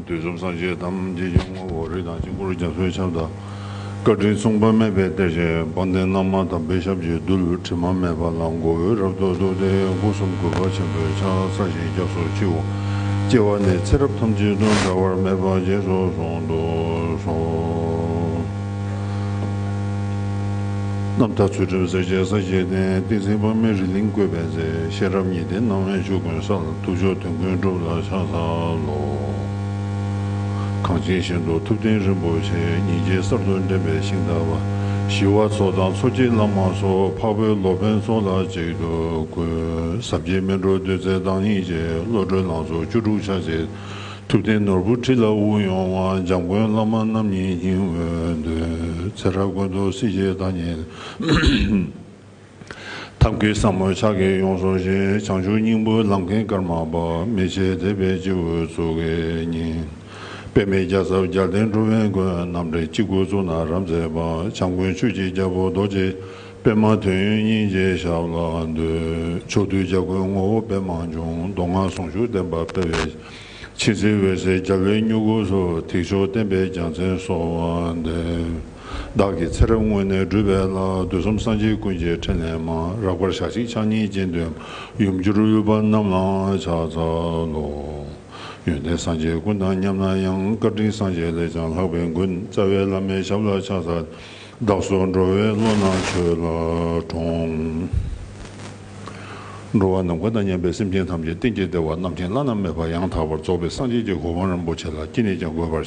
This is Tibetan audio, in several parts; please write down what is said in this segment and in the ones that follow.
དུས་གསུམ་སངས་རྒྱས་དམ་ཚིག་སྐྱོང་བ་འོ་རིགས་དང་དཀྱིལ་འཁོར་རྒྱ་མཚོའི་ཆབ་དང། བཀའ་དྲིན་མཚུངས་པ་མེད་པའི་གཏེར་ཆེན་དཔལ་ལྡན་རྣམ་མང་དམ་པའི་ཞབས་ཀྱི་རྡུལ་དྲི་མ་མེད་པ་ལ་མགོ་བོས་རབ་ཏུ་བསྡུ་སྟེ་སྐུ་གསུམ་གུས་པ་ཆེན་པོས་ཕྱག་འཚལ་ཞིང་སྐྱབས་སུ་མཆིའོ། སྐྱེ་བ་ནས་ཚེ་རབས་ཐམས་ཅད་དུ་འདའ་བར་མེད་པ་རྗེས་སུ་བཟུང་དུ་གསོལ། རྣམ་དག་ཚུལ་ཁྲིམས་སྲས་བཅས་ས་བཅད་ལྡན་ཏིང་འཛིན་དཔག་མེད་རི་གླིང་བཀོད་པའི་མཛེས་ཤེས་རབ་ཉི་ཟླའི་སྣང་བས་ཆོས་ཀུན་གསལ། ཐུགས་མཆོག་དོན་ཀུན་སྒྲུབ་ལ་ཕྱག་འཚལ་ལོ། གངས་ཅན་ཞིང་དུ་ཐུབ་བསྟན་རིན་པོ་ཆེ་ཉིན་བྱེད་གསར་དུ་འདྲེན་པའི་ཤིང་རྟ་བ། ཞི་བ་འཚོ་དང་འཚོ་བྱེད་བླ་མ་སོགས་འཕགས་བོད་སློབ་ཕན་ཚོགས་ལ་གཅིག་ཏུ་བཀོད། ཟབ་རྒྱས་སྨིན་གྲོལ་བདུད་རྩའི་བདག་ཉིད་ཀྱི་བློ་གྲོས་ལང་ཚོ་བཅུ་དྲུག་ཕྱག་བྱས། ཐུབ་བསྟན་ནོར་བུ་ཁྲི་ལ་དབུ་ཡོང་བ་འཇམ་མགོན་བླ་མ་རྣམ་གཉིས་སྙིང་བོའི་མདུན། ཚེ་བཀྲ་དགོན་དུ་སྲིད་ཞིའི་བདག་ཉིད། ཐབས་ཀྱི་ཟབ་མོ་ཕྱག་གིས་ཡོངས་བཟུང་ཞིང་བྱང་ཆུབ་སྙིང་པོའི་ལམ་མཁན་ཀརྨ་པདྨའི་ཆས་མཛེས་པའི་སྤྱི་བོའི་གཙུག་གི་སྙིང། པདྨའི་རྒྱ་ཟབ་རྒྱལ་བསྟན་གྲུབ་དབེན་མགོན་རྣམ་འདྲེན་སྤྱི་སྒོའི་གཙུག་ན་རབ་མཛེས་པ་བྱམས་མགོན་ཆོས་ཀྱི་རྒྱལ་པོ་རྡོ་རྗེ་པདྨ་དོན་ཡོད་སྙིང་རྗེའི་ཞབས་ལ་འདུད། ཕྱོགས་དུས་བྱ་རྒོད་ངོ་བོ་པདྨ་འབྱུང་མདོ་སྔགས་ཟུང་ཞུགས་བསྟན་པ་སྤེལ་བའི། ཕྱི་ཚེས་འོད་ཟེར་རྒྱ་བོད་སྨྱུ་གུ་སོགས་ཐེག་མཆོག་བསྟན་པའི་རྒྱལ་མཚན་སོགས་དབང་ལྡན། བདག་གིས་ཚེ་རབས་སྔོན་ནས་བསྒྲུབས་པའི་ལྷ་བདུད་གསུམ་སངས་རྒྱས་ཀུན་གྱི་ཕྲིན་ལས་མ་རག་པར་ཞག་གཅིག་ཕྱག་གཉིས་སྤྱན་བདུན་ཡུམ་གྱུར་དབུལ་བ་རྣམས་ལའང་ཕྱག་འཚལ་ལོ། ཡོན་ཏན་སངས་རྒྱས་ཀུན་དང་མཉམ་ན་ཡང་བཀའ་དྲིན་སངས་རྒྱས་ལས་ཀྱང་ལྷག་པའི་མགོན་རྩ་བའི་བླ་མའི་ཞབས་ལ་ཕྱག་འཚལ། བདག་སོགས་འགྲོ་བའི་བློ་སྣ་ཆོས་ལ་དྲོངས། འགྲོ་བ་ནམ་མཁའ་དང་མཉམ་པའི་སེམས་ཅན་ཐམས་ཅད་གཏན་གྱི་བདེ་བ་རྣམ་མཁྱེན་བླ་ན་མེད་པ་ཡང་དག་པར་རྫོགས་པའི་སངས་རྒྱས་ཀྱི་གོ་འཕང་རིན་པོ་ཆེ་ལ་སྐྱིད་ནས་ཀྱང་འགོད་པར་བྱ།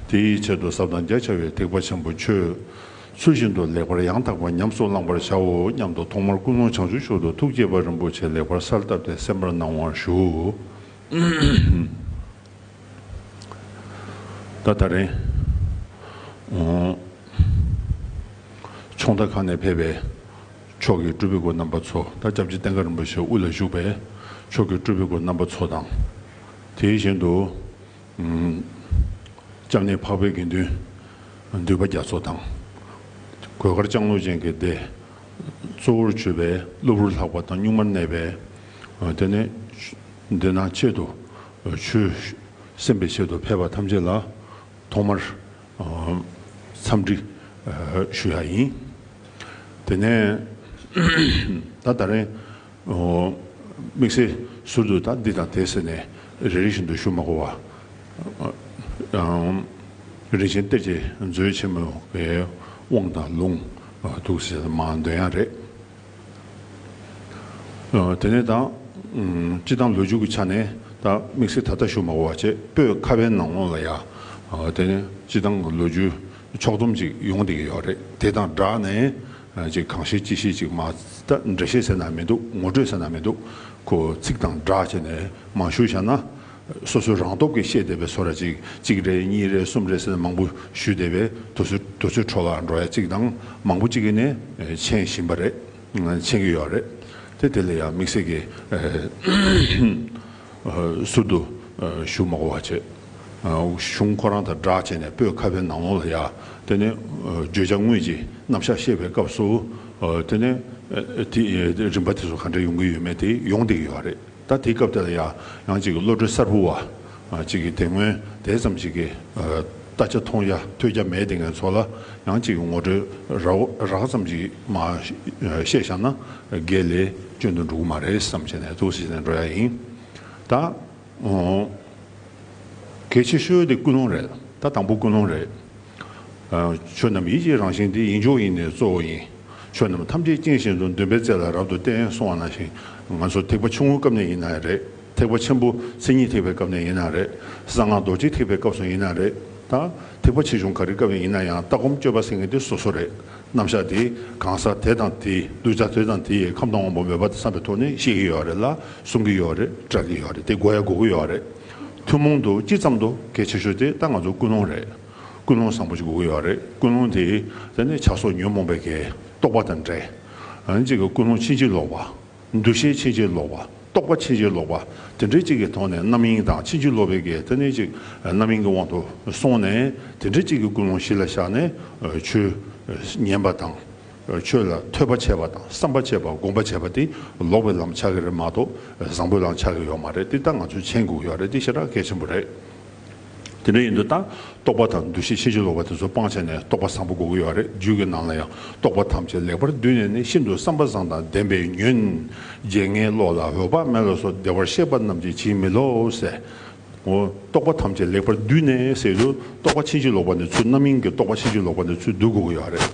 དེའི་ཆེད་དུ་ཟབ་དང་རྒྱ་ཆེ་བའི་ཐེག་པ་ཆེན་པོ་ཆོས་ཚུལ་བཞིན་དུ་ལེགས་པར་ཡང་དག་པར་ཉམས་སུ་བླང་བར་བྱའོ་སྙམ་དུ་ཐོག་མར་ཀུན་སློང་བྱང་ཆུབ་ཤོག་ཏུ་ཐུགས་བསྐྱེད་པ་རིན་པོ་ཆེ་ལེགས་པར་སར་བཏབ་སྟེ་གསན་པར་གནང་བར་ཞུ། ད་ད་རེང། ཚོང་ལྟ་ཁང་ནས་ཕེབས་པའི། མཆོག་གི་སྤྲུལ་པའི་སྒོ་རྣམ་པ་ཚོ་དང་སྐྱབས་རྗེ་བསྟན་དགའ་རིན་པོ་ཆེ་དབུ་ལ་བཞུགས་པས་མཆོག་གི་སྤྲུལ་པའི་སྒོ་རྣམ་པ་ཚོ་དང། དེ་བཞིན་དུ། སྐྱབས་གནས་འཕགས་པའི་དགེ་འདུན་འདུས་པ་རྒྱ་མཚོ་དང། གོས་དཀར་ལྕང་ལོ་ཅན་གྱི་སྡེ། གཙོ་བོར་བྱོས་པས་གློ་བུར་ལྷགས་པ་དང་གཉུག་མར་གནས་པས། དེ་ནས་འདི་ན་ཆེད་དུ་བྱོས། སེམས་པའི་ཆེད་དུ་ཕལ་པ་ཐམས་ཅད་ལ། ཐོག་མར་འཚམས་འདྲི་ཞུ་ཡག་ཡིན། དེ་ནས་ད་ད་རེང་དམིགས་བསལ་ཟུར་དུ་ད་འདི་དང་དེ་ཟེར་ནས་རེ་རེ་བཞིན་དུ་ཞུ་མ་གོ་བ། རིན་ཆེན་གཏེར་གྱི་མཛོད་ཆེན་མོའི་དབང་དང་ལུང་འདུག་ཟེར་མ་འདོན་ཡག་རེད། དེ་ནས་དང། སྤྱི་དང་ལོ་རྒྱུས་ཀྱི་ཆ་ནས་དང་དམིགས་བསལ་ད་ལྟ་ཞུ་མ་གོ་བ་བྱས་པོས་ཁ་བའི་ནང་ལོགས་ལ་ཡ། དེ་ནས་སྤྱི་དང་གི་ལོ་རྒྱུས་ཕྱོགས་བསྡོམས་ཅིག་ཡོང་བསྡད་ཀྱི་ཡོད་རེད་དེ་དང་སྦྲགས་ནས་ཅིག་གང་བཤད་ཅི་བཤད་ཅིག་མ་ད་འགྲེལ་བཤད་ཟེར་ན་མི་འདུག་ངོ་སྤྲོད་ཟེར་ན་མི་འདུག་གོ་ཚིག་དང་སྦྲགས་བྱས་ནས་མ་ཞུ་བྱ་ན། སོ་སོའི་རང་སྟོབས་ཀྱིས་བཤད་བསྡད་པའི་སོ་ར་ཅིག་གཅིག་རེ་གཉིས་རེ་གསུམ་རེ་ཟེར་ནས་མང་པོ་ཞུས་བསྡད་པས་དུར་ཚོད་འཕྲོ་བརླག་འགྲོ་ཡ་གཅིག་དང་མང་པོ་གཅིག་ནས་འཕྱན་བཞིན་པ་རེད། འཕྱན་གྱི་ཡོད་རེད་དེ། དེ་ལ་ཡང་དམིགས་བསལ་གྱི་ཟུར་དུ་བཞུགས་མ་གོ་བ་བྱས། གཞུང་ཁོ་རང་དང་སྦྲགས་བྱས་ནས་སྤོས་ཁ་བའི་ནང་ལོང་ལ་ཡར་དེ་ནས་བརྗོད་བྱ་དངོས་ཀྱི་རྣམ་གཞག་བཤད་པའི་སྐབས་སུ་དེ་ནས་རིམ་པ་དེ་ཚོ་ག་འདྲ་ཡོང་གི་ཡོད་མེད་དེ་ཡོང་བསྡད་ཀྱི་ཡོད་རེད། ད་དེའི་སྐབས་དེ་ལ་ཡང་ཡང་ཅིག་བློ་གྲོས་གསར་བུ་བ་ཅིག་གིས་དེ་སྔོན་དེ་ཙམ་ཞིག་གི་ལྟ་ཆ་མཐོང་རྒྱ་ཐོས་རྒྱ་མེད་དེ་ངའི་ཚོ་ལ་ཡང་ཅིག་ངོ་སྤྲོད་རགས་ཙམ་ཞིག་མ་བཤད་བཞག་ན་དགེ་ལས་སྤྱོད་འདུག་འགྲོ་གི་མ་རེད་བསམ་བྱས་ནས་ཐུགས་བསུ་བྱས་ནས་འགྲོ་ཡ་ཡིན། ད་གལ་ཆེ་ཤོས་དེ་ཀུན་སློང་རེད་ད་དང་པོ་ཀུན་སློང་རེད། ཆོས་རྣམས་ཡིད་ཀྱི་རང་བཞིན་ཏེ་ཡིད་འབྱུང་ཡིན་ནས་གཙོ་བོ་ཡིན། ཆོས་རྣམས་ཐམས་ཅད་རྐྱེན་བཞིན་དུ་འདུན་པའི་རྩལ་ལ་རབ་ཏུ་བརྟེན་སོང་བ་ན་ཞིང་ང་ཚོ་ཐེག་པ་ཆུང་ངུའི་སྐབས་ནས་ཡིན་ན་རེད། ཐེག་པ་ཆེན་པོ་མཚན་ཉིད་ཐེག་པའི་སྐབས་ནས་ཡིན་ན་རེད། གསང་སྔགས་རྡོ་རྗེ་ཐེག་པའི་སྐབས་སུ་ཡིན་ན་རེད་དང། ཐེག་པ་ཆེ་ཆུང་ག་རེའི་སྐབས་ནས་ཡིན་ན་ཡང་ལྟ་སྒོམ་སྤྱོད་པ་ཟེར་མཁན་དེ་སོ་སོ་རེད། རྣམ་གཞག་དེ་གང་ཟག་དེ་དང་དེའི་གདུལ་བྱ་དེ་དང་དེའི་ཁམས་དང་དབང་པོ་མོས་པ་དང་བསམ་པའི་ཐོག་ནས་ཤེས་ཀྱི་ཡོད་རེད་ལ་གསུང་གི་ཡོད་རེད་བསྒྲགས་ཀྱི་ཡོད་རེད་དེ་གོ་ཡ་གོ་གི་ཡོད་རེད། ཐུན་མོང་དུ་སྤྱི་ཙམ་དུ་གལ་ཆེ་ཤོས་དེ་ད་ང་ཚོ་ཀུན་སློང་རེད། ཀུན་སློང་བཟང་པོ་ཞིག་དགོས་ཀྱི་ཡོད་རེད་ཀུན་སློང་དེས་ད་ནི་བྱ་སོགས་ཉོན་མོངས་པའི་གེགས་རྟོགས་པ་དང་འདྲེ། གཅིག་གི་ཀུན་སློང་ཕྱིན་ཅི་ལོག་པ། འདུ་ཤེས་ཕྱིན་ཅི་ལོག་པ་རྟོགས་པ་ཕྱིན་ཅི་ལོག་པ་དེ་འདྲེ་གཅིག་གི་ཐོག་ནས་རྣམ་གཡེང་དང་ཕྱིན་ཅི་ལོག་པའི་གེགས་ད་ནི་གཅིག་རྣམ་གཡེང་གི་དབང་དུ་སོང་ནས་དེ་འདྲེ་གཅིག་གི་ཀུན་སློང་གཞི་ལ་བཞག་ནས་ཆོས་ཉན་པ་དང། ཆོས་ལ་ཐོས་པ་བྱས་པ་དང་བསམ་པ་བྱས་པ་སྒོམ་པ་བྱས་པ་དེ་ལོག་པའི་ལམ་ཆགས་ཀྱི་རེད་མ་གཏོགས་བཟང་པོའི་ལམ་ཆགས་ཀྱི་ཡོད་མ་རེད་དེ་ལྟ་ང་ཚོས་མཆན་འགོད་ཀྱི་ཡོད་རེད་དེ་ཤེས་ར་གལ་ཆེན་པོ་རེད། དེ་འདྲ་ཡིན་དུས་ད་རྟོགས་པ་དང་འདུ་ཤེས་ཤེས་བྱེད་ལོག་པ་དེ་ཚོ་སྤང་བྱས་ནས་རྟོགས་པ་བཟང་པོ་འགོད་ཀྱི་ཡོད་རེད་རྒྱུད་ཀྱི་ནང་ལ་ཡང་རྟོགས་པ་ཐམས་ཅད་ལེགས་པར་བསྡུས་ནས་ནི་ཤིན་ཏུ་བསམ་པ་བཟང་དང་ལྡན་པའི་ཉོན། རྗེ་ངའི་བློ་ལ་འོད་དཔག་མེད་ལ་སོགས་བདེ་བར་གཤེགས་པ་རྣམས་ཀྱིས་བྱིན་མི་ལོག་ཟེར། རྟོག་པ་ཐམས་ཅད་ལེགས་པར་བསྡུས་ནས་ཟེར་དུས་རྟོག་པ་ཕྱིན་ཅི་ལོག་པ་ནི་ཚུལ་རྣམ་གཡེང་གི་རྟོག་པ་ཕྱིན་ཅི་ལོག་པ་ནི་ཚུལ་སྡུག་གི་ཡོད་རེད།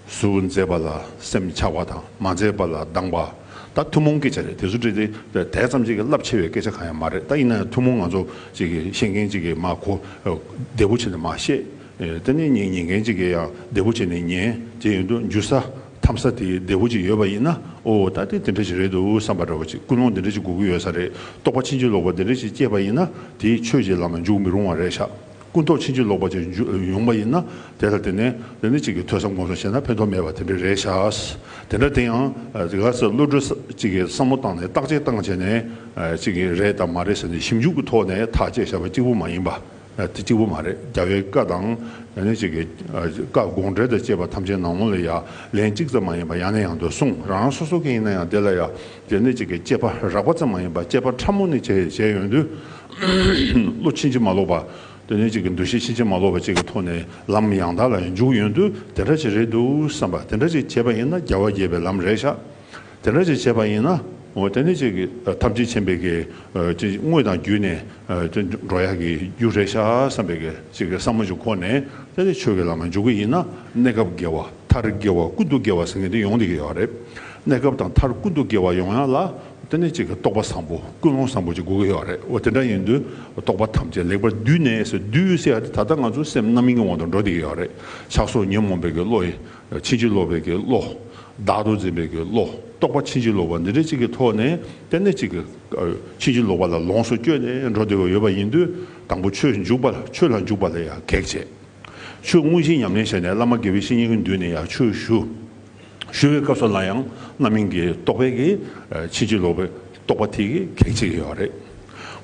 གཟུགས་མཛེས་པ་ལ་སེམས་ཆགས་པ་དང་མ་མཛེས་པ་ལ་སྡང་བ། ད་ཐུན་མོང་སྐད་ཆ་རེད་དེ་ཚོ་བཀྲིས་བདེ་དད་ཙམ་གཅིག་གི་རླབས་ཆེ་བའི་སྐད་ཆ་གང་ཡང་མ་རེད་ད་ཡིན་ན་ཡང་ཐུན་མོང་ང་ཚོ་གཅིག་གི་ཤེས་མཁན་གཅིག་གི་མ་གོ་བདེ་པོ་བྱས་ནས་མ་བཤད་དེ་ནས་ཉན་མཁན་གཅིག་གི་ཡང་བདེ་པོ་བྱས་ནས་ཉན་བྱས་ཡོད་དུ་འཇུ་ས། འཐམ་ས་དེ་བདེ་བོ་ཅིག་ཡོད་པ་ཡིན་ན་ཨོ་ད་ལྟའི་དེ་འདྲ་ཞིག་རེད་འདུག་བསམ་པ་འདྲ་བ་ཅིག་ཀུན་སློང་དེ་འདྲ་ཅིག་དགོས་ཀྱི་ཡོད་ས་རེད་རྟོགས་པ་ཕྱིན་ཅི་ལོག་པ་དེ་འདྲ་ཞིག་སྐྱེས་པ་ཡིན་ན་དེས་ཆོས་ཀྱི་ལམ་ལ་འཇུག་མི་རུང་བ་རེད་ཤག་ཀུན་རྟོགས་ཕྱིན་ཅི་ལོག་པ་ཅིག་ཡོང་པ་ཡིན་ན་དེ་ལ་བརྟེན་ནས་ལས་འདི་གཅིག་གིས་ཐོས་བསམ་སྒོམ་བཟང་བྱས་ན་ཕན་ཐོགས་མེད་པ་དེ་འདྲ་རེད་ཤག་དེ་འདྲ་དེ་ཡང་དེ་ག་ཚོད་བློ་གྲོས་ཅིག་གིས་བསམ་བློ་བཏང་ནས་བརྟག་དཔྱད་བཏང་བྱས་ནས་ཅིག་རེད་དམ་མ་རེད་ཟེར་ནས་ཞིབ་འཇུག་གི་ཐོག་ནས་ཐག་བཅད་བྱས་པ་གཅིག་པུ་མ་ཡིན་པ། དེ་གཅིག་པུ་མ་རེད་རྒྱ་བོད་སྐད་དང། ཡང་ན་གཅིག་གི་སྐད་དགོངས་འགྲེལ་དང་བཅས་པ་ཐམས་ཅད་ནང་མོ་ལ་ཡ་ལན་གཅིག་ཙམ་མ་ཡིན་པར་ཡང་ན་ཡང་དུ་གསུངས་རང་རང་སོ་སོ་གི་ཡིན་ན་ཡང་དེ་ལ་ཡ་ལན་ནི་གཅིག་གི་དཔྱད་པ་རགས་པ་ཙམ་མ་ཡིན་པར་དཔྱད་པ་ཕྲ་མོ་ནི་བྱས་ཡོད་དུས་བློ་ཕྱིན་ཅི་མ་ལོག་པ་དེ་ནི་གཅིག་གི་འདུ་ཤེས་ཕྱིན་ཅི་མ་ལོག་པ་གཅིག་གི་ཐོག་ནས་ལམ་ཡང་དག་ལ་འཇུག་ཡོད་དུས་དེ་འདྲ་ཅིག་རེད་འདུག་བསམ་པ་དེ་འདྲ་ཅིག་བྱས་པ་ཡིན་ན་རྒྱལ་བ་དགྱེས་པའི་ལམ་རེད་ཤག་དེ་འདྲ་ཅིག་བྱས་པ་ཡིན་ན། དེ་ནི་ཅིག་ཐམས་ཅད་མཁྱེན་པའི་གེ། དངོས་དང་བརྒྱུད་ནས་འགྲོ་ཡག་གི་རྒྱུ་རེད་ཤག་བསམ་པའི་གེ། ཅིག་གི་བསམ་བློ་ཅིག་ཁོ་ནས་དེ་ནི་ཆོས་ཀྱི་ལམ་ལ་འཇུག་གི་ཡིན་ན། གནས་སྐབས་དགེ་བ་མཐར་དགེ་བ་ཀུན་ཏུ་དགེ་བ་ཟེར་མཁན་དེ་ཡོང་དེ་གི་ཡོད་རེད། གནས་སྐབས་དང་མཐར་ཀུན་ཏུ་དགེ་བ་ཡོང་ཡག་ལ། དེ་ནི་ཅིག་རྟོགས་པ་བཟང་པོ་ཀུན་སློང་བཟང་པོ་ཅིག་དགོས་གི་ཡོད་རེད། དེ་འདྲ་ཡིན་དུས་རྟོགས་པ་ཐམས་ཅད་ལེགས་པར་བསྡུས་ནས་སེ་བསྡུས་སེ་ཡག་དེ་ད་ལྟ་ང་ཚོ་སེམས་རྣམ་གཡེང་བ་དང་འགྲོ་དེ་གི་ཡོད་རེད། ཆགས་སོགས་ཉོན་མོངས་པའི་གེ་བློ་ཡི། ཕྱིན་ཅི་ལོག་པའི་ཀྱི་བློ། བདག་ཏུ་འཛིན་པའི་ཀྱི་བློ་རྟོག་པ་ཕྱིན་ཅི་ལོག་པ་འདི་འདྲ་གཅིག་གི་ཐོག་ནས་གཏན་གནས་གཅིག་གི། ཕྱིན་ཅི་ལོག་པ་ལ་ལོངས་སུ་སྤྱོད་ནས་འགྲོ་བདེ་བ་ཡོད་པ་ཡིན་དུས་དང་པོ་ཆོས་འཇུག་པ་ཆོས་ལ་འཇུག་པ་ལ་ཡང་གེགས་བྱེད། ཆོས་དངོས་གཞི་ཉམས་ལེན་བྱས་ནས་བླ་མ་དགེ་བའི་བཤེས་གཉེན་གྱི་མདུན་ནས་ཡང་ཆོས་ཞུ། ཞུ་བའི་སྐབས་སུ་ལ་ཡང་རྣམ་སྨིན་གྱི་རྟོག་པའི་ཀྱི་ཕྱིན་ཅི་ལོག་པའི། རྟོགས་པ་དེ་གེགས་བྱེད་ཀྱི་ཡོད་རེད།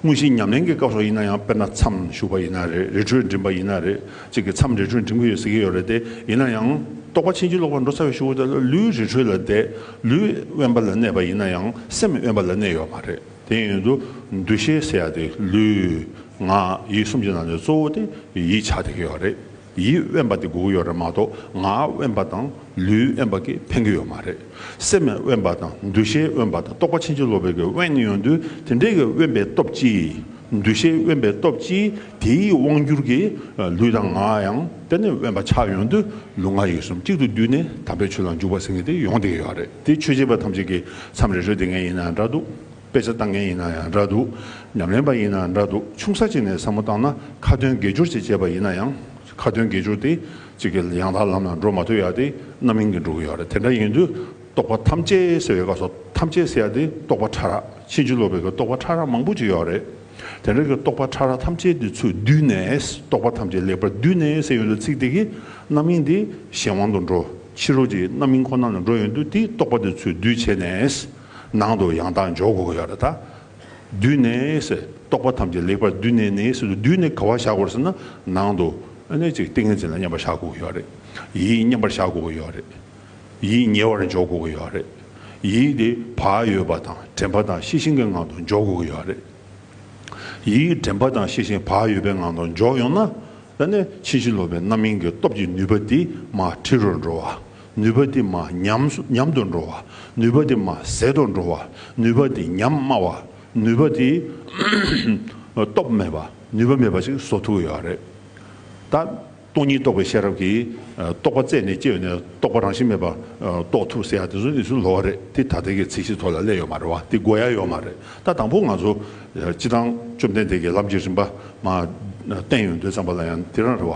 དངོས་གཞིའི་ཉམས་ལེན་གྱི་སྐབས་སོགས་ཡིན་ན་ཡང་དཔེར་ན་མཚམས་བཞུགས་པ་ཡིན་ན་རེད་རི་ཁྲོད་འགྲིམས་པ་ཡིན་ན་རེད་ཅིག་གི་མཚམས་རི་ཁྲོད་འགྲིམས་ཀྱི་ཡོད་ཟེར་གྱི་ཡོད་རེད་དེ་ཡིན་ན་ཡང། རྟོགས་པ་ཕྱིན་ཅི་ལོག་པར་འགྲོ་ཚར་བའི་ཤུགས་དེ་ལུས་རི་ཁྲོད་ལ་བསྡད་ལུས་དབེན་པ་ལ་གནས་པ་ཡིན་ན་ཡང་སེམས་དབེན་པ་ལ་གནས་ཡོད་མ་རེད་དེ་ཡིན་དུ་འདུ་ཤེས་ཟེར་ཡག་དེ་ལུས། ངག། ཡིད་གསུམ་གྱི་ནང་ནས་གཙོ་བོ་དེ་ཡིད་ཆགས་བསྡད་ཀྱི་ཡོད་རེད། ཡིད་དབེན་པ་དེ་སྒུག་ཡོད་རེད་མ་གཏོགས་ངག་དབེན་པ་དང་ལུས་དབེན་པ་གིས་ཕན་གི་ཡོད་མ་རེད། སེམས་དབེན་པ་དང་འདུ་ཤེས་དབེན་པ་དང་རྟོག་པ་ཕྱིན་ཅི་ལོག་པའི་གི་དབེན་ཡོད་དུས་དེ་འདྲའི་གི་དབེན་པའི་སྟོབས་ཀྱིས་འདུ་ཤེས་དབེན་པའི་སྟོབས་ཀྱིས་དེའི་དབང་བསྒྱུར་གྱིས་ལུས་དང་ངག་ཡང་དེ་ནས་དབེན་པ་ཆགས་ཡོང་དུས་ལུས་ངག་ཡིད་གསུམ་གཅིག་ཏུ་བསྡུས་ནས་དམ་པའི་ཆོས་ལ་འཇུག་པ་ཟེར་མཁན་དེ་ཡོང་དེ་གི་ཡོད་རེད་དེ་ཆོས་བྱེད་པ་ཐམས་ཅད་ཀྱི་མཚམས་རེ་རེ་དེ་ངས་ཡིན་ན་འདྲ་འདུག། དཔེ་ཆ་བཏང་མཁན་ཡིན་ན་ཡང་འདྲ་འདུག་ཉམས་ལེན་པ་ཡིན་ན་འདྲ་འདུག་ཆུང་ས་ཅིག་ནས་བསམ་བློ་བཏང་ན་ཁ་དོན་དགེ་སྦྱོར་ཅིག་བྱས་པ་ཡིན་ན་ཡང་ཁ་དོན་དགེ་སྦྱོར་དེ་ཅིག་གི་ཡང་དག་ལམ་ལ་འགྲོ་མ་ཐུབ་ཡག་དེ་རྣམ་གཡེང་གིས་འགྲོ་གི་ཡོད་རེད་དེ་འདྲ་ཡིན་དུས་རྟོག་པ་ཐམས་ཅད་སེལ་བའི་སྐབས་སུ་ཐམས་ཅད་སེལ་ཡག་དེ་རྟོག་པ་ཕྲ་རགས་ཕྱིན་ཅི་ལོག་པའི་གི་རྟོག་པ་ཕྲ་རགས་མང་པོ་ཅིག་ཡོད་རེད་དེ་འདྲ་གི་རྟོག་པ་ཕྲ་རགས་ཐམས་ཅད་དེ་ཚོས་བསྡུས་ནས་རྟོག་པ་ཐམས་ཅད་ལེགས་པར་བསྡུས་ནས་སེལ་ཡོང་དུས་ཚིག་དེ་གི་རྣམ་གཡེང་དེ་གཞན་དབང་དུ་འགྲོ་ཕྱི་རོལ་གྱི་རྣམ་གཡེང་ཁོ་ན་ལ་འགྲོ་ཡོང་དུས་དེའི་རྟོག་པ་དེ་ཚོས་བསྡུས་བྱས་ནས། ནང་དུ་ཡང་དག་འཇོག་དགོས་ཀྱི་ཡོད་ལ། བསྡུས་ནས་ཟེར། རྟོག་པ་ཐམས་ཅད་ལེགས་པར་བསྡུས་ནས་ནི་ཟེར་དུས་བསྡུས་ནས་ག་བ་བཞག་དགོས་རེད་ཟེར་ན་ནང་དུ་ཨེ་ཅིག་ཏིང་ངེ་འཛིན་ལ་མཉམ་པར་བཞག་དགོས་ཀྱི་ཡོད་རེད། ཡིད་མཉམ་པར་བཞག་དགོས་ཀྱི་ཡོད་རེད། ཡིད་ཉེ་བར་འཇོག་དགོས་ཀྱི་ཡོད་རེད། ཡིད་དེ་བག་ཡོད་པ་དང་དྲན་པ་དང་ཤེས་བཞིན་གྱི་ངང་དུ་འཇོག་དགོས་ཀྱི་ཡོད་རེད། ཡིད་དྲན་པ་དང་ཤེས་བཞིན་བག་ཡོད་པའི་ངང་དུ་འཇོག་ཡོང་ན། ཕྱིན་ཅི་ལོག་པའི་རྣམ་སྨིན་གྱི་སྟོབས་ཀྱིས་ནུས་པ་དེ་མ་འཁྲིལ་རུ་འགྲོ་བ། ནུས་པ་དེ་མ་ཉམས་དུ་འགྲོ་བ། ནུས་པ་དེ་མ་ཟད་དུ་འགྲོ་བ། ནུས་པ་དེ་ཉམས་དམའ་བ། ནུས་པ་དེ་སྟོབས་མེད་པ། ནུས་པ་མེད་པ་ཞིག་བཟོ་ཐུབ་ཀྱི་ཡོད་རེད། ད། སྟོང་ཉིད་རྟོགས་པའི་ཤེས་རབ་ཀྱིས་རྟོགས་པ་རྩད་ནས་བཅད་ནས་རྟོགས་པ་རང་བཞིན་མེད་པ་རྟོགས་ཐུབ་ཟེར་ཡག་དེ་ཚོ་ནི་ཚུལ་ལོག་རེད་དེ་ད་ལྟའི་གི་ཚིག་བཞི་ཐོག་ལ་གླས་ཡོད་མ་རེད་བ་དེ་གོ་ཡ་ཡོད་མ་རེད་ད་དང་པོ་ང་ཚོ་སྤྱི་བཏང་བཅོམ་ལྡན་འདས་ཀྱི་ལམ་གྱི་རིམ་པ་མ་བསྟན་ཡོང་དོན་ཙམ་པ་ལ་ཡང་དེ་རང་རེད་བ།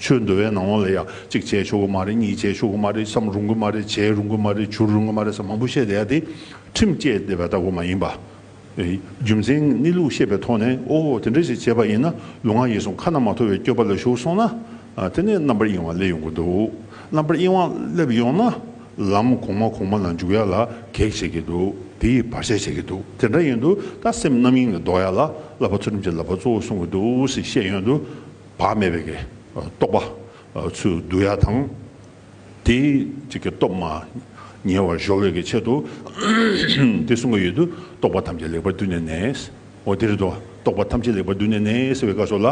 ཆོས་འདུལ་བའི་ནང་བ་ལ་ཡང་གཅིག་བྱས་ཆོག་གི་མ་རེད་གཉིས་བྱས་ཆོག་གི་མ་རེད་བསམ་རུང་གི་མ་རེད་བྱས་རུང་གི་མ་རེད་བྱུར་རུང་གི་མ་རེད་ས་མང་པོ་བཤད་བསྡད་ཡ་དེ་ཁྲིམས་བཅས་བསྡད་པ་ལྟ་བུ་མ་ཡིན་པ། རྒྱུ་མཚན་གནས་ལུགས་ཤེས་པའི་ཐོག་ནས་ཨོ་ཧོ་དེ་འདྲ་ཞིག་བྱས་པ་ཡིན་ན་ལུས་ངག་ཡིད་གསུམ་ཁ་ན་མ་ཐོ་བའི་སྐྱོ་པ་ལ་ཞུགས་སོང་ན་དེ་ནས་རྣམ་པར་གཡེང་བ་སླེབས་ཡོང་གི་འདུག་རྣམ་པར་གཡེང་བ་སླེབས་ཡོང་ན་ལམ་གོང་མ་གོང་མ་ལ་འཇུག་ཡ་ལ་གེགས་བྱེད་ཀྱི་འདུག་དེ་ཡིས་བར་ཆད་བྱེད་ཀྱི་འདུག་དེ་འདྲ་ཡིན་དུས་ད་སེམས་རྣམ་གཡེང་ལས་ལྡོག་ཡ་ལ་བསླབ་པ་ཚུལ་ཁྲིམས་ཀྱི་བསླབ་པ་གཙོ་བོ་གསུང་གི་འདུག་ཞེས་བཤད་ཡོང་དུས། བག་མེད་པའི་རྟོག་པ་ཚུལ་བསྡུ་ཡ་དང། དེའི་སྟོབས་མ་ཉེ་བར་གཞོག་བའི་ཆེད་དུ་དེ་གསུང་གི་ཡུལ་དུ་རྟོག་པ་ཐམས་ཅད་ལེགས་པར་བསྡུས་ནས་ནས་འོ་དེ་རེ་དོ་རྟོག་པ་ཐམས་ཅད་ལེགས་པར་བསྡུས་ནས་ནས་ཟེར་བའི་བཀའ་སོགས་ལ།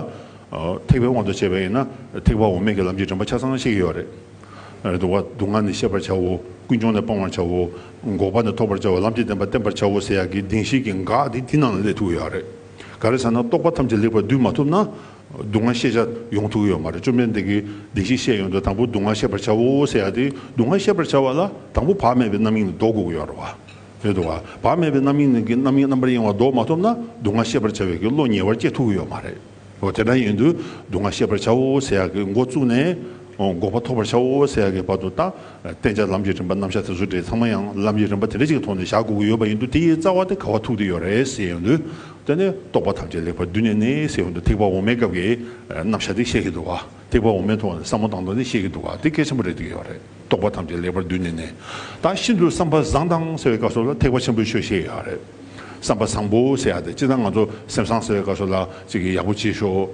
ཐེག་པའི་དབང་དུ་བྱས་པ་ཡིན་ན་ཐེག་པ་འོ་མས་ཀྱི་ལམ་གྱི་དྲན་པ་ཆ་ཚང་ཤེས་ཀྱི་ཡོད་རེད། དུ་བ་སྡུག་བསྔལ་ནི་ཤེས་པར་བྱའོ་ཀུན་འབྱུང་ནི་སྤང་བར་བྱའོ། འགོག་པ་ནི་ཐོབ་པར་བྱའོ་ལམ་གྱི་བདེན་པ་བསྟན་པར་བྱའོ་ཟེར་ཡག་གི་གདིང་ཤེས་ཀྱི་འགག་དེ་དེ་རྣམས་ལ་སླེབས་ཐུག་གི་ཡོད་རེད། ག་རེ་ཟེར་ན་རྟོག་པ་ཐམས་ཅད་ལེགས་པར་བསྡུས་མ་ཐུབ་ན། སྡུག་བསྔལ་ཤེས་བྱ་ཡོང་ཐུག་གི་ཡོད་མ་རེད་བཅོམ་ལྡན་འདས་ཀྱིས་བདེན་བཞི་བཤད་ཡོད་འདུག་དང་པོ་སྡུག་བསྔལ་ཤེས་པར་བྱའོ་ཟེར་ཡ་དེ་སྡུག་བསྔལ་ཤེས་པར་བྱ་བ་ལ་དང་པོ་བག་མེད་པའི་རྣམ་གཡེང་ནི་ལྡོག་དགོས་ཀྱི་ཡོད་རེད་དོ། བག་མེད་པའི་རྣམ་གཡེང་ནི་རྣམ་གཡེང་རྣམ་པར་གཡེང་བ་ལྡོག་མ་ཐུབ་ན་སྡུག་བསྔལ་ཤེས་པར་བྱ་བའི་ཀྱི་བློ་ཉེ་བར་སྐྱེ་ཐུག་གི་ཡོད་མ་རེད། དེ་འདྲ་ཡིན་དུས་སྡུག་བསྔལ་ཤེས་པར་བྱའོ་ཟེར་ཡ་ཀྱི་མགོ་བཙུགས་ནས། འགོག་པ་ཐོབ་པར་བྱའོ་ཟེར་ཡག་གི་བར་དུ་བརྟག། བསྟན་བྱ་ལམ་གྱི་རིམ་པ་རྣམ་གཞག་དེ་ཚོ་འདྲེས་ཚང་མ་ཡང་ལམ་གྱི་རིམ་པ་དེ་འདྲ་གཅིག་གི་ཐོག་ནས་བཞག་དགོས་ཀྱི་ཡོད་པ་ཡིན་དུས་དེའི་རྩ་བ་དེ་ག་བ་ཐུག་དེ་ཡོད་རེད་ཟེར་ཡོང་དུས། དེ་ནས་རྟོག་པ་ཐམས་ཅད་ལེགས་པར་བསྡུས་ནས་ནི་ཟེར་ཡོང་དུས་ཐེག་པ་འོག་མའི་སྐབས་ཀྱི་རྣམ་གཞག་དེ་བཤད་ཀྱི་འདུག་ག་ཐེག་པ་འོག་མའི་ཐོག་ནས་བསམ་བློ་བཏང་དོན་དེ་བཤད་ཀྱི་འདུག་ག་དེ་གལ་ཆེན་པོ་རེད་འདོད་ཡོད་རེད་རྟོག་པ་ཐམས་ཅད་ལེགས་པར་བསྡུས་ནས་ནི། ད་ཤིན་ཏུ་བསམ་པ་བཟང་དང་ཟེར་བའི་སྐབས་སོགས་ལ་ཐེག་པ་ཆེན་པོའི་ཆོས་བཤད་ཡོད་རེད། བསམ་པ་བཟང་པོ་ཟེར་ཡག་སྟེ་ཅི་ལྟར་ང་ཚོ་སེམས་བཟང་ཟེར་བའི་སྐབས་སུ་ལ་ཅིག་ཡག་པོ་བྱེད་ཤོག་